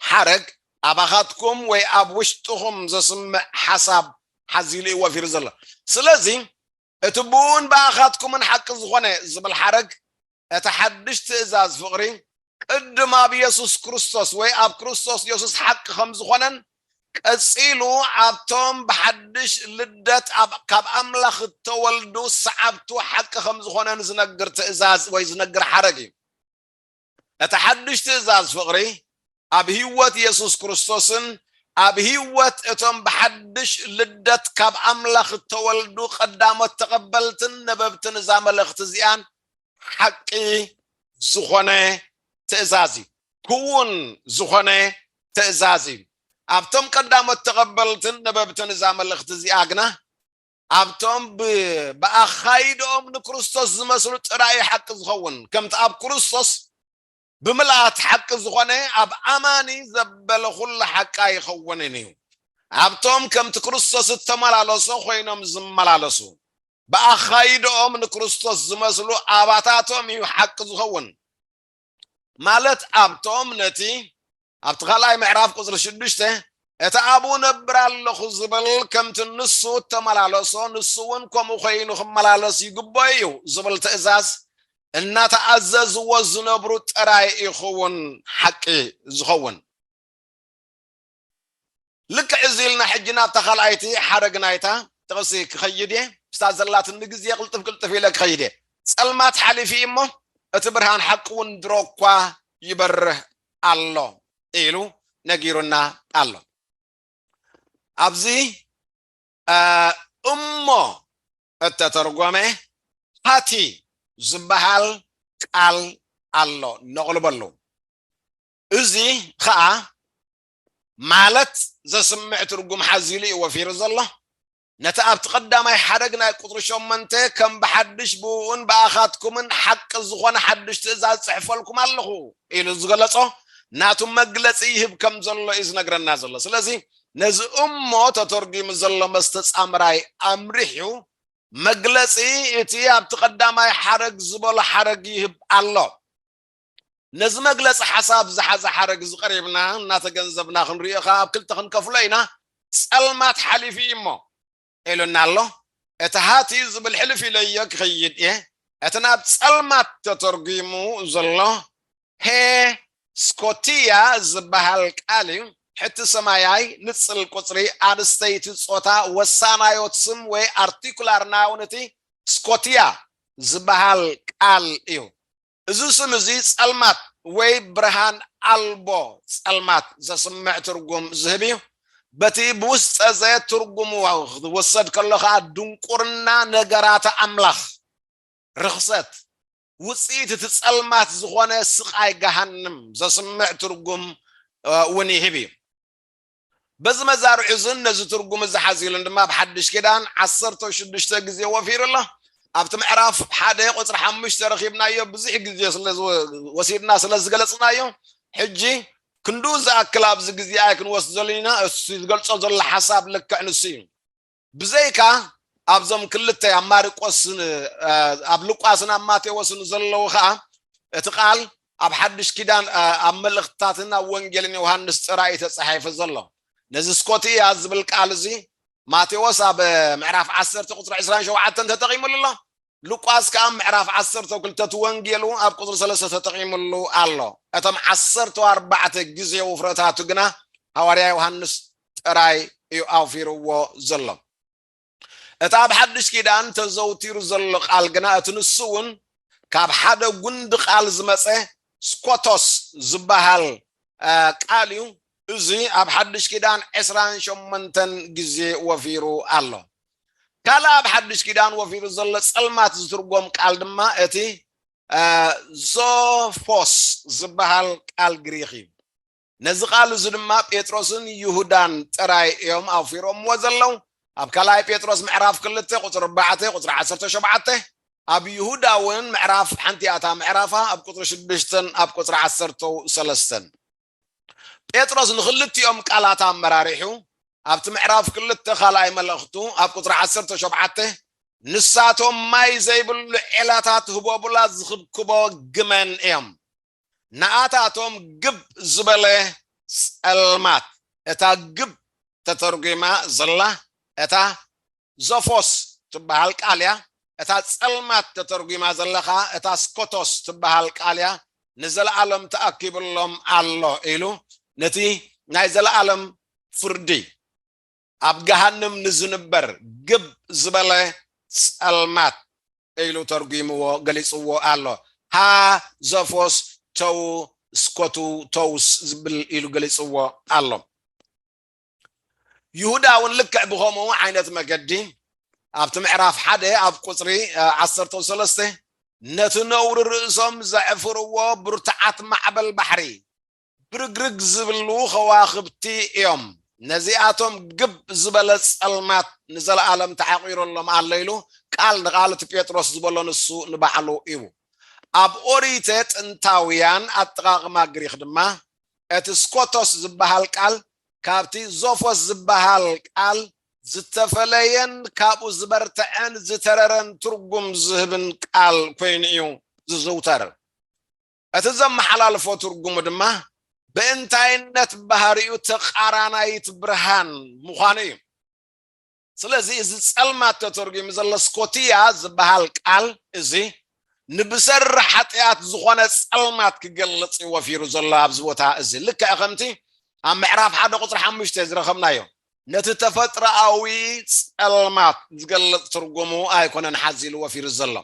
ሓረግ ኣባኻትኩም ወይ ኣብ ውሽጥኹም ዘስምዕ ሓሳብ ሓዚሉ እዩ ወፊሩ ዘሎ ስለዚ እቲ ብእኡን ብኣኻትኩምን ሓቂ ዝኾነ ዝብል ሓረግ እቲ ሓድሽ ትእዛዝ ፍቕሪ ቅድም ኣብ የሱስ ክርስቶስ ወይ ኣብ ክርስቶስ የሱስ ሓቂ ከም ዝኾነን ቀጺሉ ኣብቶም ብሓድሽ ልደት ኣብ ካብ ኣምላኽ እተወልዱ ሰዓብቱ ሓቂ ከም ዝኾነን ዝነግር ትእዛዝ ወይ ዝነግር ሓረግ እዩ። እቲ ሓድሽ ትእዛዝ ፍቕሪ ኣብ ህይወት የሱስ ክርስቶስን ኣብ ህይወት እቶም ብሓድሽ ልደት ካብ ኣምላኽ እተወልዱ ቐዳሞት ተቐበልትን ነበብትን እዛ መልእኽቲ እዚኣን ሓቂ ዝዀነ ትእዛዝ እዩ። ክዉን ዝዀነ ትእዛዝ እዩ። ኣብቶም ቀዳሞት ተቐበልትን ነበብትን እዛ መልእኽቲ እዚኣ ግና ኣብቶም ብ ብኣኻይዳኦም ንክርስቶስ ዝመስሉ ጥራይ እዩ ሓቂ ዝኸውን ከምቲ ኣብ ክርስቶስ ብምልኣት ሓቂ ዝኾነ ኣብ ኣማኒ ዘበለ ኩሉ ሓቂ ኣይኸውንን እዩ ኣብቶም ከምቲ ክርስቶስ እተመላለሶ ኮይኖም ዝመላለሱ ብኣኻይዳኦም ንክርስቶስ ዝመስሉ ኣባታቶም እዩ ሓቂ ዝኸውን ማለት ኣብቶም ነቲ ኣብቲ ካልኣይ ምዕራፍ ቁፅሪ ሽዱሽተ እቲ ኣብኡ ነብር ኣለኹ ዝብል ከምቲ ንሱ እተመላለሶ ንሱ እውን ከምኡ ኮይኑ ክመላለስ ይግብኦ እዩ ዝብል ትእዛዝ እናተኣዘዝዎ ዝነብሩ ጥራይ ይኸውን ሓቂ ዝኸውን ልክዕ እዚ ኢልና ሕጂ ናብታ ካልኣይቲ ሓረግ ናይታ ጥቕሲ ክኸይድ እየ፣ ምስታ ዘላትኒ ግዜ ቅልጥፍ ቅልጥፍ ኢለ ክኸይድ እየ። ጸልማት ሓሊፉ እዩ እሞ፣ እቲ ብርሃን ሓቂ እውን ድሮ እኳ ይበርህ ኣሎ ኢሉ ነጊሩና ኣሎ። ኣብዚ እሞ እተተርጎመ ሃቲ ዝበሃል ቃል ኣሎ፣ ነቕልበሉ። እዚ ኸኣ ማለት ዘስምዕ ትርጉም ሓዚሉ እዩ ወፊሩ ዘሎ። ነቲ ኣብቲ ቀዳማይ ሓረግ ናይ ቁጽሪ ሸሞንተ ከም ብሓድሽ ብእኡን ብኣኻትኩምን ሓቂ ዝኾነ ሓድሽ ትእዛዝ ጽሕፈልኩም ኣለኹ ኢሉ ዝገለጾ ናቱ መግለጺ ይህብ ከም ዘሎ እዩ ዝነግረና ዘሎ። ስለዚ ነዚ እሞ ተተርጒሙ ዘሎ መስተጻምራይ ኣምሪሑ መግለጺ እቲ ኣብቲ ቀዳማይ ሓረግ ዝበሎ ሓረግ ይህብ ኣሎ። ነዚ መግለጺ ሓሳብ ዝሓዘ ሓረግ እዚ ቀሪብና እናተገንዘብና ክንሪኦ ከኣ ኣብ ክልተ ክንከፍሎ ኢና፣ ጸልማት ሓሊፉ እዩ እሞ። ኢሉና ኣሎ። እቲ ሃት እዩ ዝብል ሕልፍ ኢለዮ ክኸይድ እየ። እቲ ናብ ጸልማት ተተርጒሙ ዘሎ ፐ ስኮቲያ ዝበሃል ቃል እዩ። ሕቲ ሰማያይ፣ ንጽል ቁጽሪ፣ ኣንስተይቲ፣ ጾታ፣ ወሳናዮት ስም ወይ ኣርቲኩላር ናውን እቲ ስኮቲያ ዝበሃል ቃል እዩ። እዚ ስም እዚ ጸልማት ወይ ብርሃን ኣልቦ ጸልማት ዘስምዕ ትርጉም ዝህብ እዩ። በቲ ብውስጠዘ ትርጉሙ ክትወሰድ ከሎ ከኣ ድንቁርና ነገራተ ኣምላኽ፣ ርኽሰት፣ ውጽኢት እቲ ጸልማት ዝኾነ ስቓይ ገሃንም ዘስምዕ ትርጉም እውን ይህብ እዩ። በዚ መዛርዕ እዝን ነዚ ትርጉም እዚ ሓዚሉን ድማ ኣብ ሓድሽ ኪዳን ዓሰርተ ሽዱሽተ ግዜ ወፊሩ ኣሎ ኣብቲ ምዕራፍ ሓደ ቁፅሪ ሓሙሽተ ረኺብናዮ ብዙሕ ግዜ ስለወሲድና ስለ ዝገለፅናዮ ሕጂ ክንዱ ዝኣክል ኣብዚ ግዜ ኣይክንወስደሉ ኢና እሱ ዝገልፆ ዘሎ ሓሳብ ልክዕ ንሱ እዩ ብዘይካ ኣብዞም ክልተ ኣብ ማርቆስ ኣብ ሉቃስን ኣብ ማቴዎስን ዘለዉ ከኣ እቲ ቃል ኣብ ሓድሽ ኪዳን ኣብ መልእኽትታትን ኣብ ወንጌልን ዮሃንስ ጥራይ ተጻሒፉ ዘሎ ነዚ ስኮትያ ዝብል ቃል እዚ ማቴዎስ ኣብ ምዕራፍ 10 ቁጽሪ 27 ተጠቒሙሉ ኣሎ ሉቃስ ከኣ ኣብ ምዕራፍ ዓሰርተው ክልተ እቲ ወንጌሉ ኣብ ቁጽሪ ሰለስተ ተጠቒምሉ ኣሎ። እቶም ዓሰርተው ኣርባዕተ ግዜ ውፍረታቱ ግና ሃዋርያ ዮሃንስ ጥራይ እዩ ኣውፊርዎ ዘሎ። እቲ ኣብ ሓድሽ ኪዳን ተዘውቲሩ ዘሎ ቃል ግና እቲ ንሱ እውን ካብ ሓደ ጉንዲ ቃል ዝመጸ ስኮቶስ ዝበሃል ቃል እዩ። እዚ ኣብ ሓድሽ ኪዳን ዕስራን ሸሞንተን ግዜ ወፊሩ ኣሎ። ካልእ ኣብ ሓድሽ ኪዳን ወፊሩ ዘሎ ጸልማት ዝትርጎም ቃል ድማ እቲ ዞፎስ ዝበሃል ቃል ግሪኽ እዩ። ነዚ ቃል እዚ ድማ ጴጥሮስን ይሁዳን ጥራይ እዮም ኣውፊሮምዎ ዘለዉ። ኣብ ካልኣይ ጴጥሮስ ምዕራፍ ክልተ ቁጽሪ ኣርባዕተ ቁጽሪ ዓሰርተ ሸውዓተ ኣብ ይሁዳ እውን ምዕራፍ ሓንቲ ኣታ ምዕራፋ ኣብ ቁጽሪ ሽዱሽተን ኣብ ቁጽሪ ዓሰርተው ሰለስተን ጴጥሮስ ንኽልቲኦም ቃላት ኣመራሪሑ ኣብቲ ምዕራፍ ክልተ ካልኣይ መልእኽቱ ኣብ ቁፅሪ ዓሰርተ ሸውዓተ ንሳቶም ማይ ዘይብሉ ዔላታት ህቦቡላ ዝኽብክቦ ግመን እዮም ንኣታቶም ግብ ዝበለ ጸልማት እታ ግብ ተተርጒማ ዘላ እታ ዞፎስ ትበሃል ቃል እያ፣ እታ ጸልማት ተተርጒማ ዘላ ከኣ እታ ስኮቶስ ትበሃል ቃል እያ፣ ንዘለኣለም ተኣኪቡሎም ኣሎ ኢሉ ነቲ ናይ ዘለኣለም ፍርዲ ኣብ ገሃንም ንዝንበር ግብ ዝበለ ጸልማት ኢሉ ተርጒምዎ ገሊጽዎ ኣሎ። ሃ ዞፎስ ቶው ስኮቱ ቶውስ ዝብል ኢሉ ገሊጽዎ ኣሎ። ይሁዳ እውን ልክዕ ብከምኡ ዓይነት መገዲ ኣብቲ ምዕራፍ ሓደ ኣብ ቁፅሪ ዓሰርተ ሰለስተ ነቲ ነውሪ ርእሶም ዘዕፍርዎ ብርቱዓት ማዕበል ባሕሪ ብርግርግ ዝብሉ ከዋኽብቲ እዮም ነዚኣቶም ግብ ዝበለ ጸልማት ንዘለኣለም ተዓቂረሎም ኣሎ ኢሉ ቃል ንቃል እቲ ጴጥሮስ ዝበሎ ንሱ ንባዕሉ እዩ ኣብ ኦሪተ ጥንታውያን ኣጠቃቅማ ግሪክ ድማ እቲ ስኮቶስ ዝበሃል ቃል ካብቲ ዞፎስ ዝበሃል ቃል ዝተፈለየን ካብኡ ዝበርተዐን ዝተረረን ትርጉም ዝህብን ቃል ኮይኑ እዩ ዝዝውተር። እቲ ዘመሓላልፎ ትርጉሙ ድማ ብእንታይነት ባህሪኡ ተቓራናይት ብርሃን ምዃኑ እዩ። ስለዚ እዚ ጸልማት ተተርጒሙ ዘሎ ስኮትያ ዝበሃል ቃል እዚ ንብሰሪ ሓጢኣት ዝኾነ ጸልማት ክገልጽ እዩ ወፊሩ ዘሎ ኣብዚ ቦታ እዚ ልክዕ ከምቲ ኣብ ምዕራፍ ሓደ ቁፅሪ ሓሙሽተ ዝረኸብናዮ ነቲ ተፈጥሮኣዊ ጸልማት ዝገልጽ ትርጉሙ ኣይኮነን ሓዚሉ ወፊሩ ዘሎ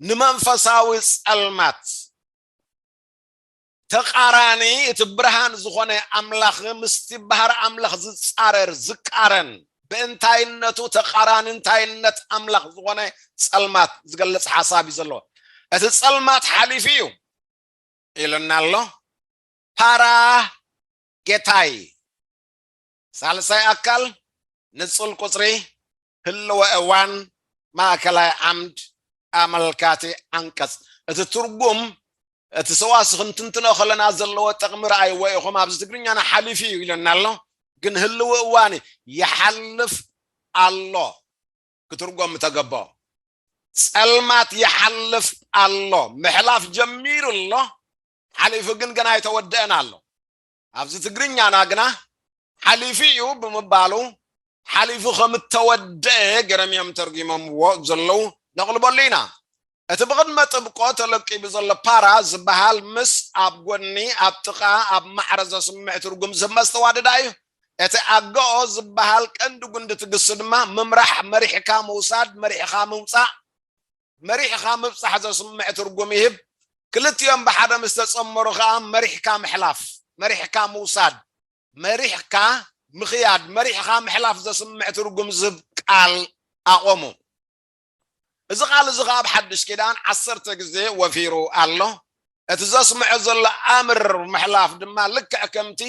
ንመንፈሳዊ ጸልማት ተቃራኒ እቲ ብርሃን ዝኾነ ኣምላኽ ምስቲ ባህሪ ኣምላኽ ዝጻረር፣ ዝቃረን፣ ብእንታይነቱ ተቃራኒ እንታይነት ኣምላኽ ዝኾነ ጸልማት ዝገልጽ ሓሳብ እዩ ዘለዎ። እቲ ጸልማት ሓሊፉ እዩ ኢሉና ኣሎ። ፓራ ጌታይ ሳልሳይ ኣካል ንጹል ቁጽሪ ህልወ እዋን ማእከላይ ዓምድ ኣመልካቲ ዓንቀጽ እቲ ትርጉም እቲ ሰዋስ ክንትንትኖ ከለና ዘለዎ ጥቕሚ ረኣይዎ ኢኹም ኣብዚ ትግርኛና ሓሊፉ እዩ ኢለና ኣሎ ግን ህልው እዋን ይሓልፍ ኣሎ ክትርጎም ተገቦ ጸልማት ይሓልፍ ኣሎ ምሕላፍ ጀሚሩ ኣሎ ሓሊፉ ግን ገና ኣይተወደአን ኣሎ ኣብዚ ትግርኛና ግና ሓሊፉ እዩ ብምባሉ ሓሊፉ ከም እተወደኤ ገይሮም እዮም ተርጒሞምዎ ዘለዉ ነቕልበሉ ኢና። እቲ ብቕድመ ጥብቆ ተለቂቡ ዘሎ ፓራ ዝበሃል ምስ ኣብ ጎኒ፣ ኣብ ጥቓ፣ ኣብ ማዕረ ዘስምዕ ትርጉም ዝህብ መስተዋድድ ኣዩ። እቲ ኣገኦ ዝበሃል ቀንዲ ጉንዲ እቲ ግሲ ድማ ምምራሕ፣ መሪሕካ ምውሳድ፣ መሪሕኻ ምውጻእ፣ መሪሕኻ ምብጻሕ ዘስምዕ ትርጉም ይህብ። ክልቲኦም ብሓደ ምስ ተጸመሩ ከኣ መሪሕካ ምሕላፍ፣ መሪሕካ ምውሳድ፣ መሪሕካ ምኽያድ፣ መሪሕኻ ምሕላፍ ዘስምዕ ትርጉም ዝህብ ቃል ኣቖሙ። እዚ ቃል እዚ ከኣ ኣብ ሓድሽ ኪዳን ዓሰርተ ግዜ ወፊሩ ኣሎ። እቲ ዘስምዖ ዘሎ ኣምር ምሕላፍ ድማ ልክዕ ከምቲ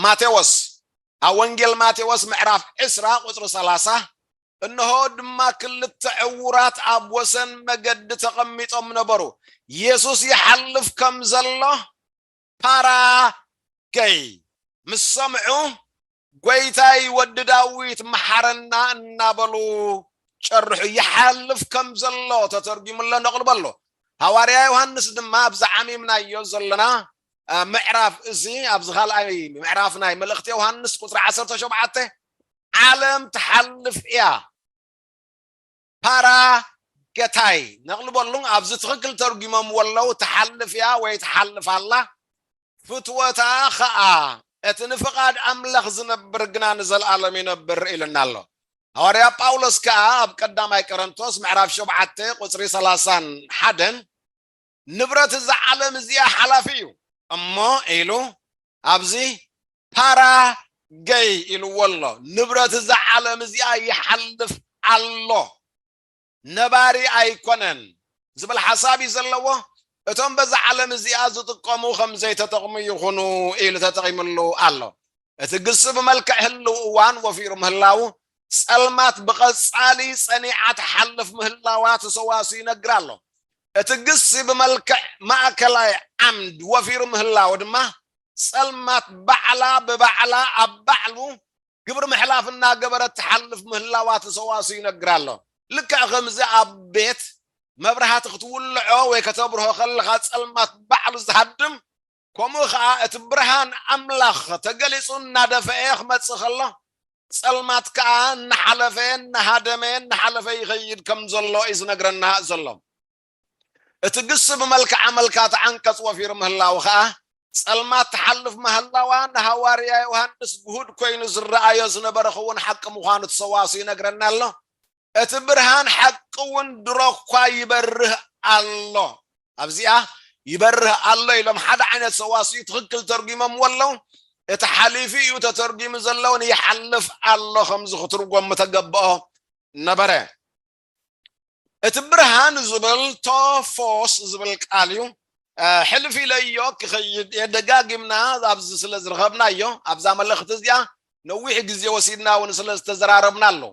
ማቴዎስ ኣብ ወንጌል ማቴዎስ ምዕራፍ ዕስራ ቁጽሪ ሰላሳ እንሆ ድማ ክልተ ዕዉራት ኣብ ወሰን መገዲ ተቐሚጦም ነበሩ፣ የሱስ ይሓልፍ ከም ዘሎ ፓራገይ ምስ ሰምዑ፣ ጐይታይ ወዲ ዳዊት መሓረና እናበሉ ጨርሑ። ይሓልፍ ከም ዘሎ ተተርጒሙ ኣሎ ነቕሉ በሎ። ሃዋርያ ዮሃንስ ድማ ኣብዚ ዓሚምናዮ ዘለና ምዕራፍ እዚ ኣብዚ ካልኣይ ምዕራፍ ናይ መልእኽቲ ዮሃንስ ቁጽሪ ዓሰርተ ሸውዓተ ዓለም ትሓልፍ እያ ፓራ ገታይ ነቅል በሉን ኣብዚ ትክክል ተርጉሞምዎ ኣለው ትሓልፍ እያ ወይ ትሓልፍ ኣላ ፍትወታ ከኣ እቲ ንፍቃድ ኣምላኽ ዝነብር ግና ንዘለኣለም ይነብር ኢልና ኣሎ ሃዋርያ ጳውሎስ ከኣ ኣብ ቀዳማይ ቀረንቶስ ምዕራፍ ሸውዓተ ቁፅሪ ሰላሳን ሓደን ንብረት እዛ ዓለም እዚኣ ሓላፊ እዩ እሞ ኢሉ ኣብዚ ፓራ ገይ ኢልዎ ኣሎ ንብረት እዛ ዓለም እዚኣ ይሓልፍ ኣሎ ነባሪ ኣይኮነን ዝብል ሓሳብ እዩ ዘለዎ እቶም በዛ ዓለም እዚኣ ዝጥቀሙ ከም ዘይተጠቕሙ ይኹኑ ኢሉ ተጠቒምሉ ኣሎ እቲ ግሱ ብመልክዕ ህልው እዋን ወፊሩ ምህላው ጸልማት ብቐጻሊ ጸኒዓ ትሓልፍ ምህላዋ ተሰዋሱ ይነግር ኣሎ እቲ ግሲ ብመልክዕ ማእከላይ ዓምድ ወፊሩ ምህላዉ ድማ፣ ጸልማት ባዕላ ብባዕላ ኣብ ባዕሉ ግብሪ ምሕላፍ እናገበረት ትሓልፍ ምህላዋ እቲ ሰዋስው ይነግር ኣሎ። ልክዕ ከምዚ ኣብ ቤት፣ መብራህቲ ክትውልዖ ወይ ከተብርሆ ከለኻ ጸልማት ባዕሉ ዝሃድም ከምኡ ኸኣ እቲ ብርሃን ኣምላኽ ተገሊጹ እናደፈኤ ክመጽእ ከሎ፣ ጸልማት ከኣ እናሓለፈ እናሃደመ እናሓለፈ ይኸይድ ከም ዘሎ እዩ ዝነግረና ዘሎ። እቲ ግሲ ብመልክዓ መልካ እቲ ዓንቀጽ ወፊሩ ምህላዉ ኸኣ፣ ጸልማት ትሓልፍ ማህላዋ ንሃዋርያ ዮሃንስ ግሁድ ኮይኑ ዝረኣዮ ዝነበረ ክዉን ሓቂ ምዃኑ እቲ ሰዋስው ይነግረና ኣሎ። እቲ ብርሃን ሓቂ እውን ድሮ እኳ ይበርህ ኣሎ። ኣብዚኣ ይበርህ ኣሎ ኢሎም ሓደ ዓይነት ሰዋስዩ ትኽክል ተርጒሞምዎ ኣለዉ። እቲ ሓሊፉ እዩ ተተርጒሙ ዘለውን ይሓልፍ ኣሎ ከምዚ ክትርጎም ምተገብኦ ነበረ። እቲ ብርሃን ዝብል ቶፎስ ዝብል ቃል እዩ። ሕልፍ ኢለዮ ክኸይድ እየ ደጋጊምና ኣብዚ ስለ ዝረኸብናዮ ኣብዛ መልእኽቲ እዚኣ ነዊሕ ግዜ ወሲድና እውን ስለ ዝተዘራረብና ኣለዉ።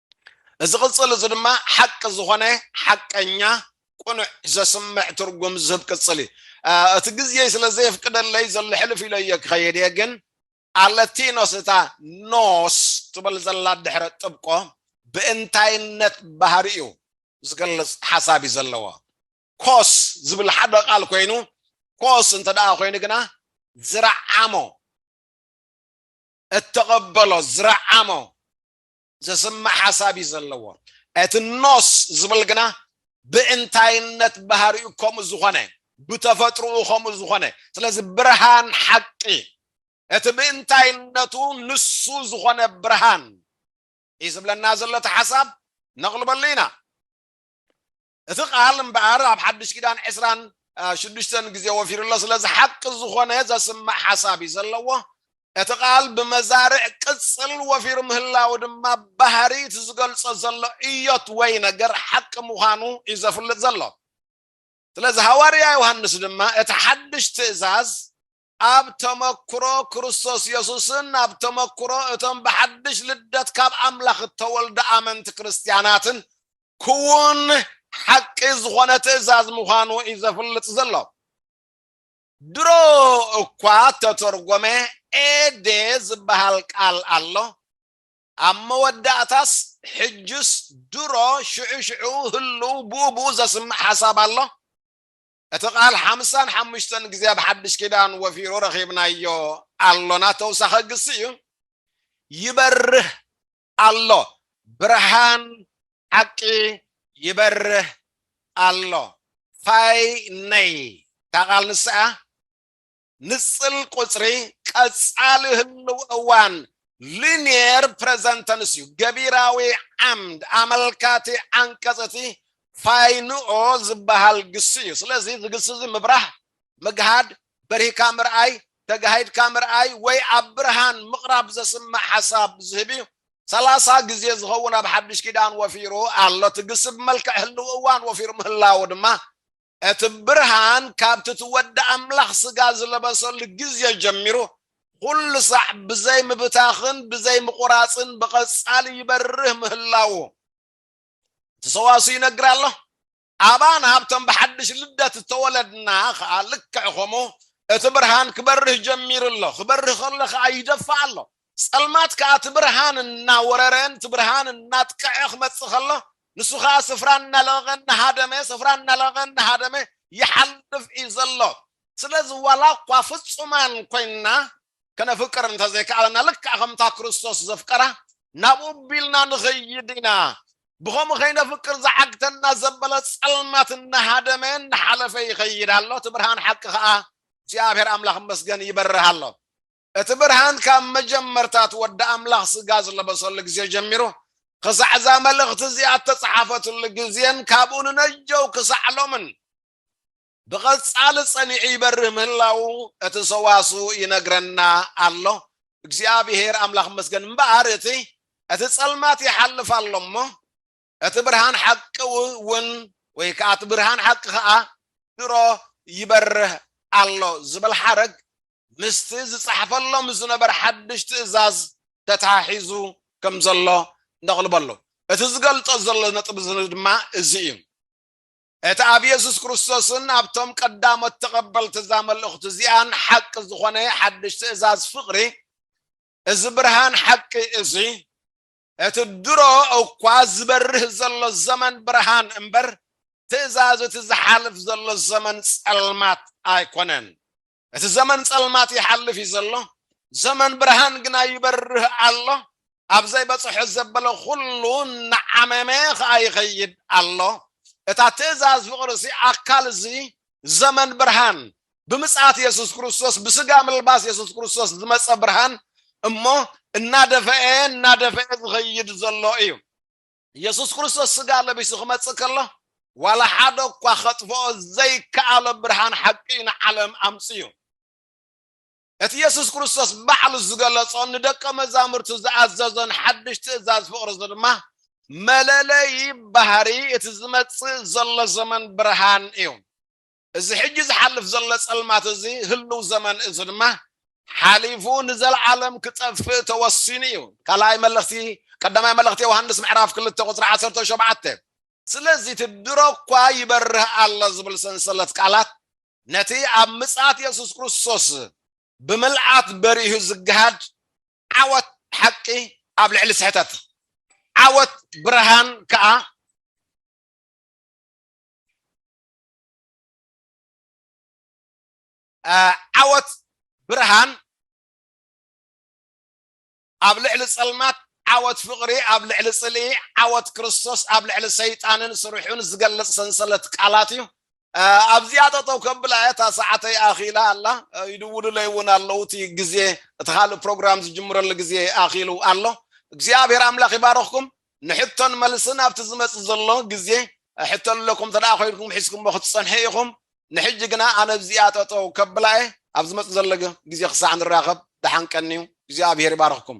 እዚ ቅጽል እዚ ድማ ሓቂ ዝኾነ ሓቀኛ ቁኑዕ ዘስምዕ ትርጉም ዝህብ ቅጽል እዩ እቲ ግዜ ስለ ዘየፍቅደለይ ዘሎ ሕልፍ ኢለዮ ክኸይድ እየ ግን ኣለቲኖስ እታ ኖስ ትበል ዘላ ድሕረ ጥብቆ ብእንታይነት ባህሪኡ ዝገልጽ ሓሳብ እዩ ዘለዎ ኮስ ዝብል ሓደ ቃል ኮይኑ ኮስ እንተ ደኣ ኮይኑ ግና ዝረዓሞ እተቐበሎ ዝረዓሞ ዘስምዕ ሓሳብ እዩ ዘለዎ። እቲ ኖስ ዝብል ግና ብእንታይነት ባህሪኡ ከምኡ ዝኾነ ብተፈጥሮኡ ከምኡ ዝኾነ ስለዚ ብርሃን ሓቂ እቲ ብእንታይነቱ ንሱ ዝኾነ ብርሃን እዩ ዝብለና ዘሎ እቲ ሓሳብ ነቕልበሉ ኢና። እቲ ቃል እምበኣር ኣብ ሓድሽ ኪዳን ዕስራን ሽዱሽተን ግዜ ወፊሩ ኣሎ። ስለዚ ሓቂ ዝኾነ ዘስምዕ ሓሳብ እዩ ዘለዎ። እቲ ቃል ብመዛርዕ ቅጽል ወፊሩ ምህላው ድማ ባህሪ እቲ ዝገልጾ ዘሎ እዮት ወይ ነገር ሓቂ ምዃኑ እዩ ዘፍልጥ ዘሎ። ስለዚ ሃዋርያ ዮሃንስ ድማ እቲ ሓድሽ ትእዛዝ ኣብ ተመክሮ ክርስቶስ የሱስን ኣብ ተመክሮ እቶም ብሓድሽ ልደት ካብ ኣምላኽ እተወልዱ ኣመንቲ ክርስትያናትን ክዉን ሓቂ ዝኾነ ትእዛዝ ምዃኑ እዩ ዘፍልጥ ዘሎ። ድሮ እኳ እተተርጎመ ኤዴ ዝበሃል ቃል ኣሎ። ኣብ መወዳእታስ ሕጅስ ድሮ ሽዑ ሽዑ ህሉው ብኡ ብኡ ዘስምዕ ሓሳብ ኣሎ። እቲ ቃል ሓምሳን ሓሙሽተን ግዜ ኣብ ሓድሽ ኪዳን ወፊሩ ረኺብናዮ ኣሎና ተውሳኸ ግሲ እዩ ይበርህ ኣሎ ብርሃን ሓቂ ይበርህ ኣሎ ፋይ ነይ እታ ቃል ንስኣ ንጽል ቁጽሪ ቀጻሊ ህልው እዋን Linear Present Tense እዩ። ገቢራዊ ዓምድ ኣመልካቲ ዓንቀጽ እቲ ፋይንኦ ዝበሃል ግሲ እዩ። ስለዚ እዚ ግሲ እዚ ምብራህ፣ ምግሃድ፣ በሪህካ ምርኣይ፣ ተጋሂድካ ምርኣይ ወይ ኣብ ብርሃን ምቕራብ ዘስምዕ ሓሳብ ዝህብ እዩ። ሰላሳ ግዜ ዝኸውን ኣብ ሓድሽ ኪዳን ወፊሩ ኣሎ። እቲ ግሲ ብመልክዕ ህልው እዋን ወፊሩ ምህላዉ ድማ እቲ ብርሃን ካብቲ እቲ ወዲ ኣምላኽ ስጋ ዝለበሰሉ ግዜ ጀሚሩ ኹሉ ሳዕ ብዘይ ምብታኽን ብዘይ ምቑራጽን ብቐጻሊ ይበርህ ምህላዉ እቲ ሰዋስው ይነግር ኣሎ። ኣባና ኣብቶም ብሓድሽ ልደት እተወለድና ኸኣ ልክዕ ኸምኡ እቲ ብርሃን ክበርህ ጀሚሩ ኣሎ፣ ክበርህ ከሎ ኸኣ ይደፍእ ኣሎ። ጸልማት ከኣ እቲ ብርሃን እናወረረን እቲ ብርሃን እናጥቀዐ ክመጽእ ከሎ ንሱ ከኣ ስፍራ እናለቐቐ እናሃደመ ስፍራ እናለቐቐ እናሃደመ ይሓልፍ እዩ ዘሎ። ስለዚ ዋላ እኳ ፍጹማን ኮይንና ከነፍቅር እንተ ዘይከኣለና ልክዕ ከምታ ክርስቶስ ዘፍቀራ ናብኡ ኣቢልና ንኸይድ ኢና። ብኸምኡ ከይነፍቅር ዝዓግተና ዘበለ ጸልማት እናሃደመ እናሓለፈ ይኸይድ ኣሎ፣ እቲ ብርሃን ሓቂ ከኣ እግዚኣብሔር ኣምላኽ ይመስገን ይበርህ ኣሎ። እቲ ብርሃን ካብ መጀመርታት ወዲ ኣምላኽ ስጋ ዝለበሰሉ ግዜ ጀሚሩ ክሳዕ እዛ መልእኽቲ እዚኣ እተጸሓፈትሉ ግዜን ካብኡ ንነጀው ክሳዕ ሎምን ብቐጻሊ ጸኒዑ ይበርህ ምህላዉ እቲ ሰዋስው ይነግረና ኣሎ። እግዚኣብሄር ኣምላኽ ይመስገን እምበኣር እቲ እቲ ጸልማት ይሓልፍ ኣሎ እሞ እቲ ብርሃን ሓቂ እውን ወይ ከዓ እቲ ብርሃን ሓቂ ከዓ ድሮ ይበርህ ኣሎ ዝብል ሓረግ ምስቲ ዝፀሕፈሎም ዝነበረ ሓድሽ ትእዛዝ ተተሓሒዙ ከም ዘሎ ነቕልቦ ኣሎ። እቲ ዝገልፆ ዘሎ ነጥቢ ድማ እዚ እዩ። እቲ ኣብ የሱስ ክርስቶስን ኣብቶም ቀዳሞት ተቐበልቲ እዛ መልእኽቲ እዚኣን ሓቂ ዝኾነ ሓድሽ ትእዛዝ ፍቕሪ እዚ ብርሃን ሓቂ እዚ እቲ ድሮ እኳ ዝበርህ ዘሎ ዘመን ብርሃን እምበር ትእዛዝ እቲ ዝሓልፍ ዘሎ ዘመን ጸልማት ኣይኮነን። እቲ ዘመን ጸልማት ይሓልፍ እዩ ዘሎ፣ ዘመን ብርሃን ግና ይበርህ ኣሎ። ኣብ ዘይበጽሖ ዘበለ ኩሉ እናዓመመ ኸኣ ይኸይድ ኣሎ። እታ ትእዛዝ ፍቕሪ እሲ ኣካል እዚ ዘመን ብርሃን ብምጽኣት የሱስ ክርስቶስ ብስጋ ምልባስ የሱስ ክርስቶስ ዝመጸ ብርሃን እሞ እናደፈኤ እናደፈኤ ዝኸይድ ዘሎ እዩ የሱስ ክርስቶስ ስጋ ለቢሱ ክመጽእ ከሎ ዋላ ሓደ እኳ ከጥፍኦ ዘይከኣሎ ብርሃን ሓቂ ንዓለም ኣምጽኡ እቲ የሱስ ክርስቶስ ባዕሉ ዝገለጾን ንደቀ መዛሙርቱ ዝኣዘዞን ሓድሽ ትእዛዝ ፍቕሪ ድማ መለለይ ባህሪ እቲ ዝመጽእ ዘሎ ዘመን ብርሃን እዩ እዚ ሕጂ ዝሓልፍ ዘሎ ጸልማት እዚ ህሉው ዘመን እዚ ድማ ሓሊፉ ንዘልዓለም ክጠፍእ ተወሲኑ እዩ። ካልኣይ መልእኽቲ ቀዳማይ መልእኽቲ ዮሃንስ ምዕራፍ ክልተ ቁጽሪ ዓሰርተ ሸውዓተ ስለዚ እቲ ድሮ እኳ ይበርህ ኣሎ ዝብል ሰንሰለት ቃላት ነቲ ኣብ ምጽኣት የሱስ ክርስቶስ ብምልኣት በሪሁ ዝገሃድ ዓወት ሓቂ ኣብ ልዕሊ ስሕተት ዓወት ብርሃን ከኣ ዓወት ብርሃን ኣብ ልዕሊ ጸልማት ዓወት ፍቕሪ ኣብ ልዕሊ ጽልኢ ዓወት ክርስቶስ ኣብ ልዕሊ ሰይጣንን ስርሑን ዝገልጽ ሰንሰለት ቃላት እዩ ኣብዚኣ ጠጠው ከብላ እያ እታ ሰዓተይ ኣኺላ ኣላ ይድውሉለይ እውን ኣለዉ እቲ ግዜ እቲ ካልእ ፕሮግራም ዝጅምረሉ ግዜ ኣኺሉ ኣሎ እግዚኣብሔር ኣምላኽ ይባረኽኩም ንሕቶን መልስን ኣብቲ ዝመጽእ ዘሎ ግዜ ሕቶ ኣለኩም እንተ ኮይንኩም ሒዝኩሞ ክትጸንሑ ኢኹም። ንሕጂ ግና ኣነ ኣብዚኣ ጠጠው ከብላ እየ። ኣብ ዝመጽእ ዘሎ ግዜ ክሳዕ ንራኸብ ደሓን ቀንዩ። እግዚኣብሄር ይባርኽኩም።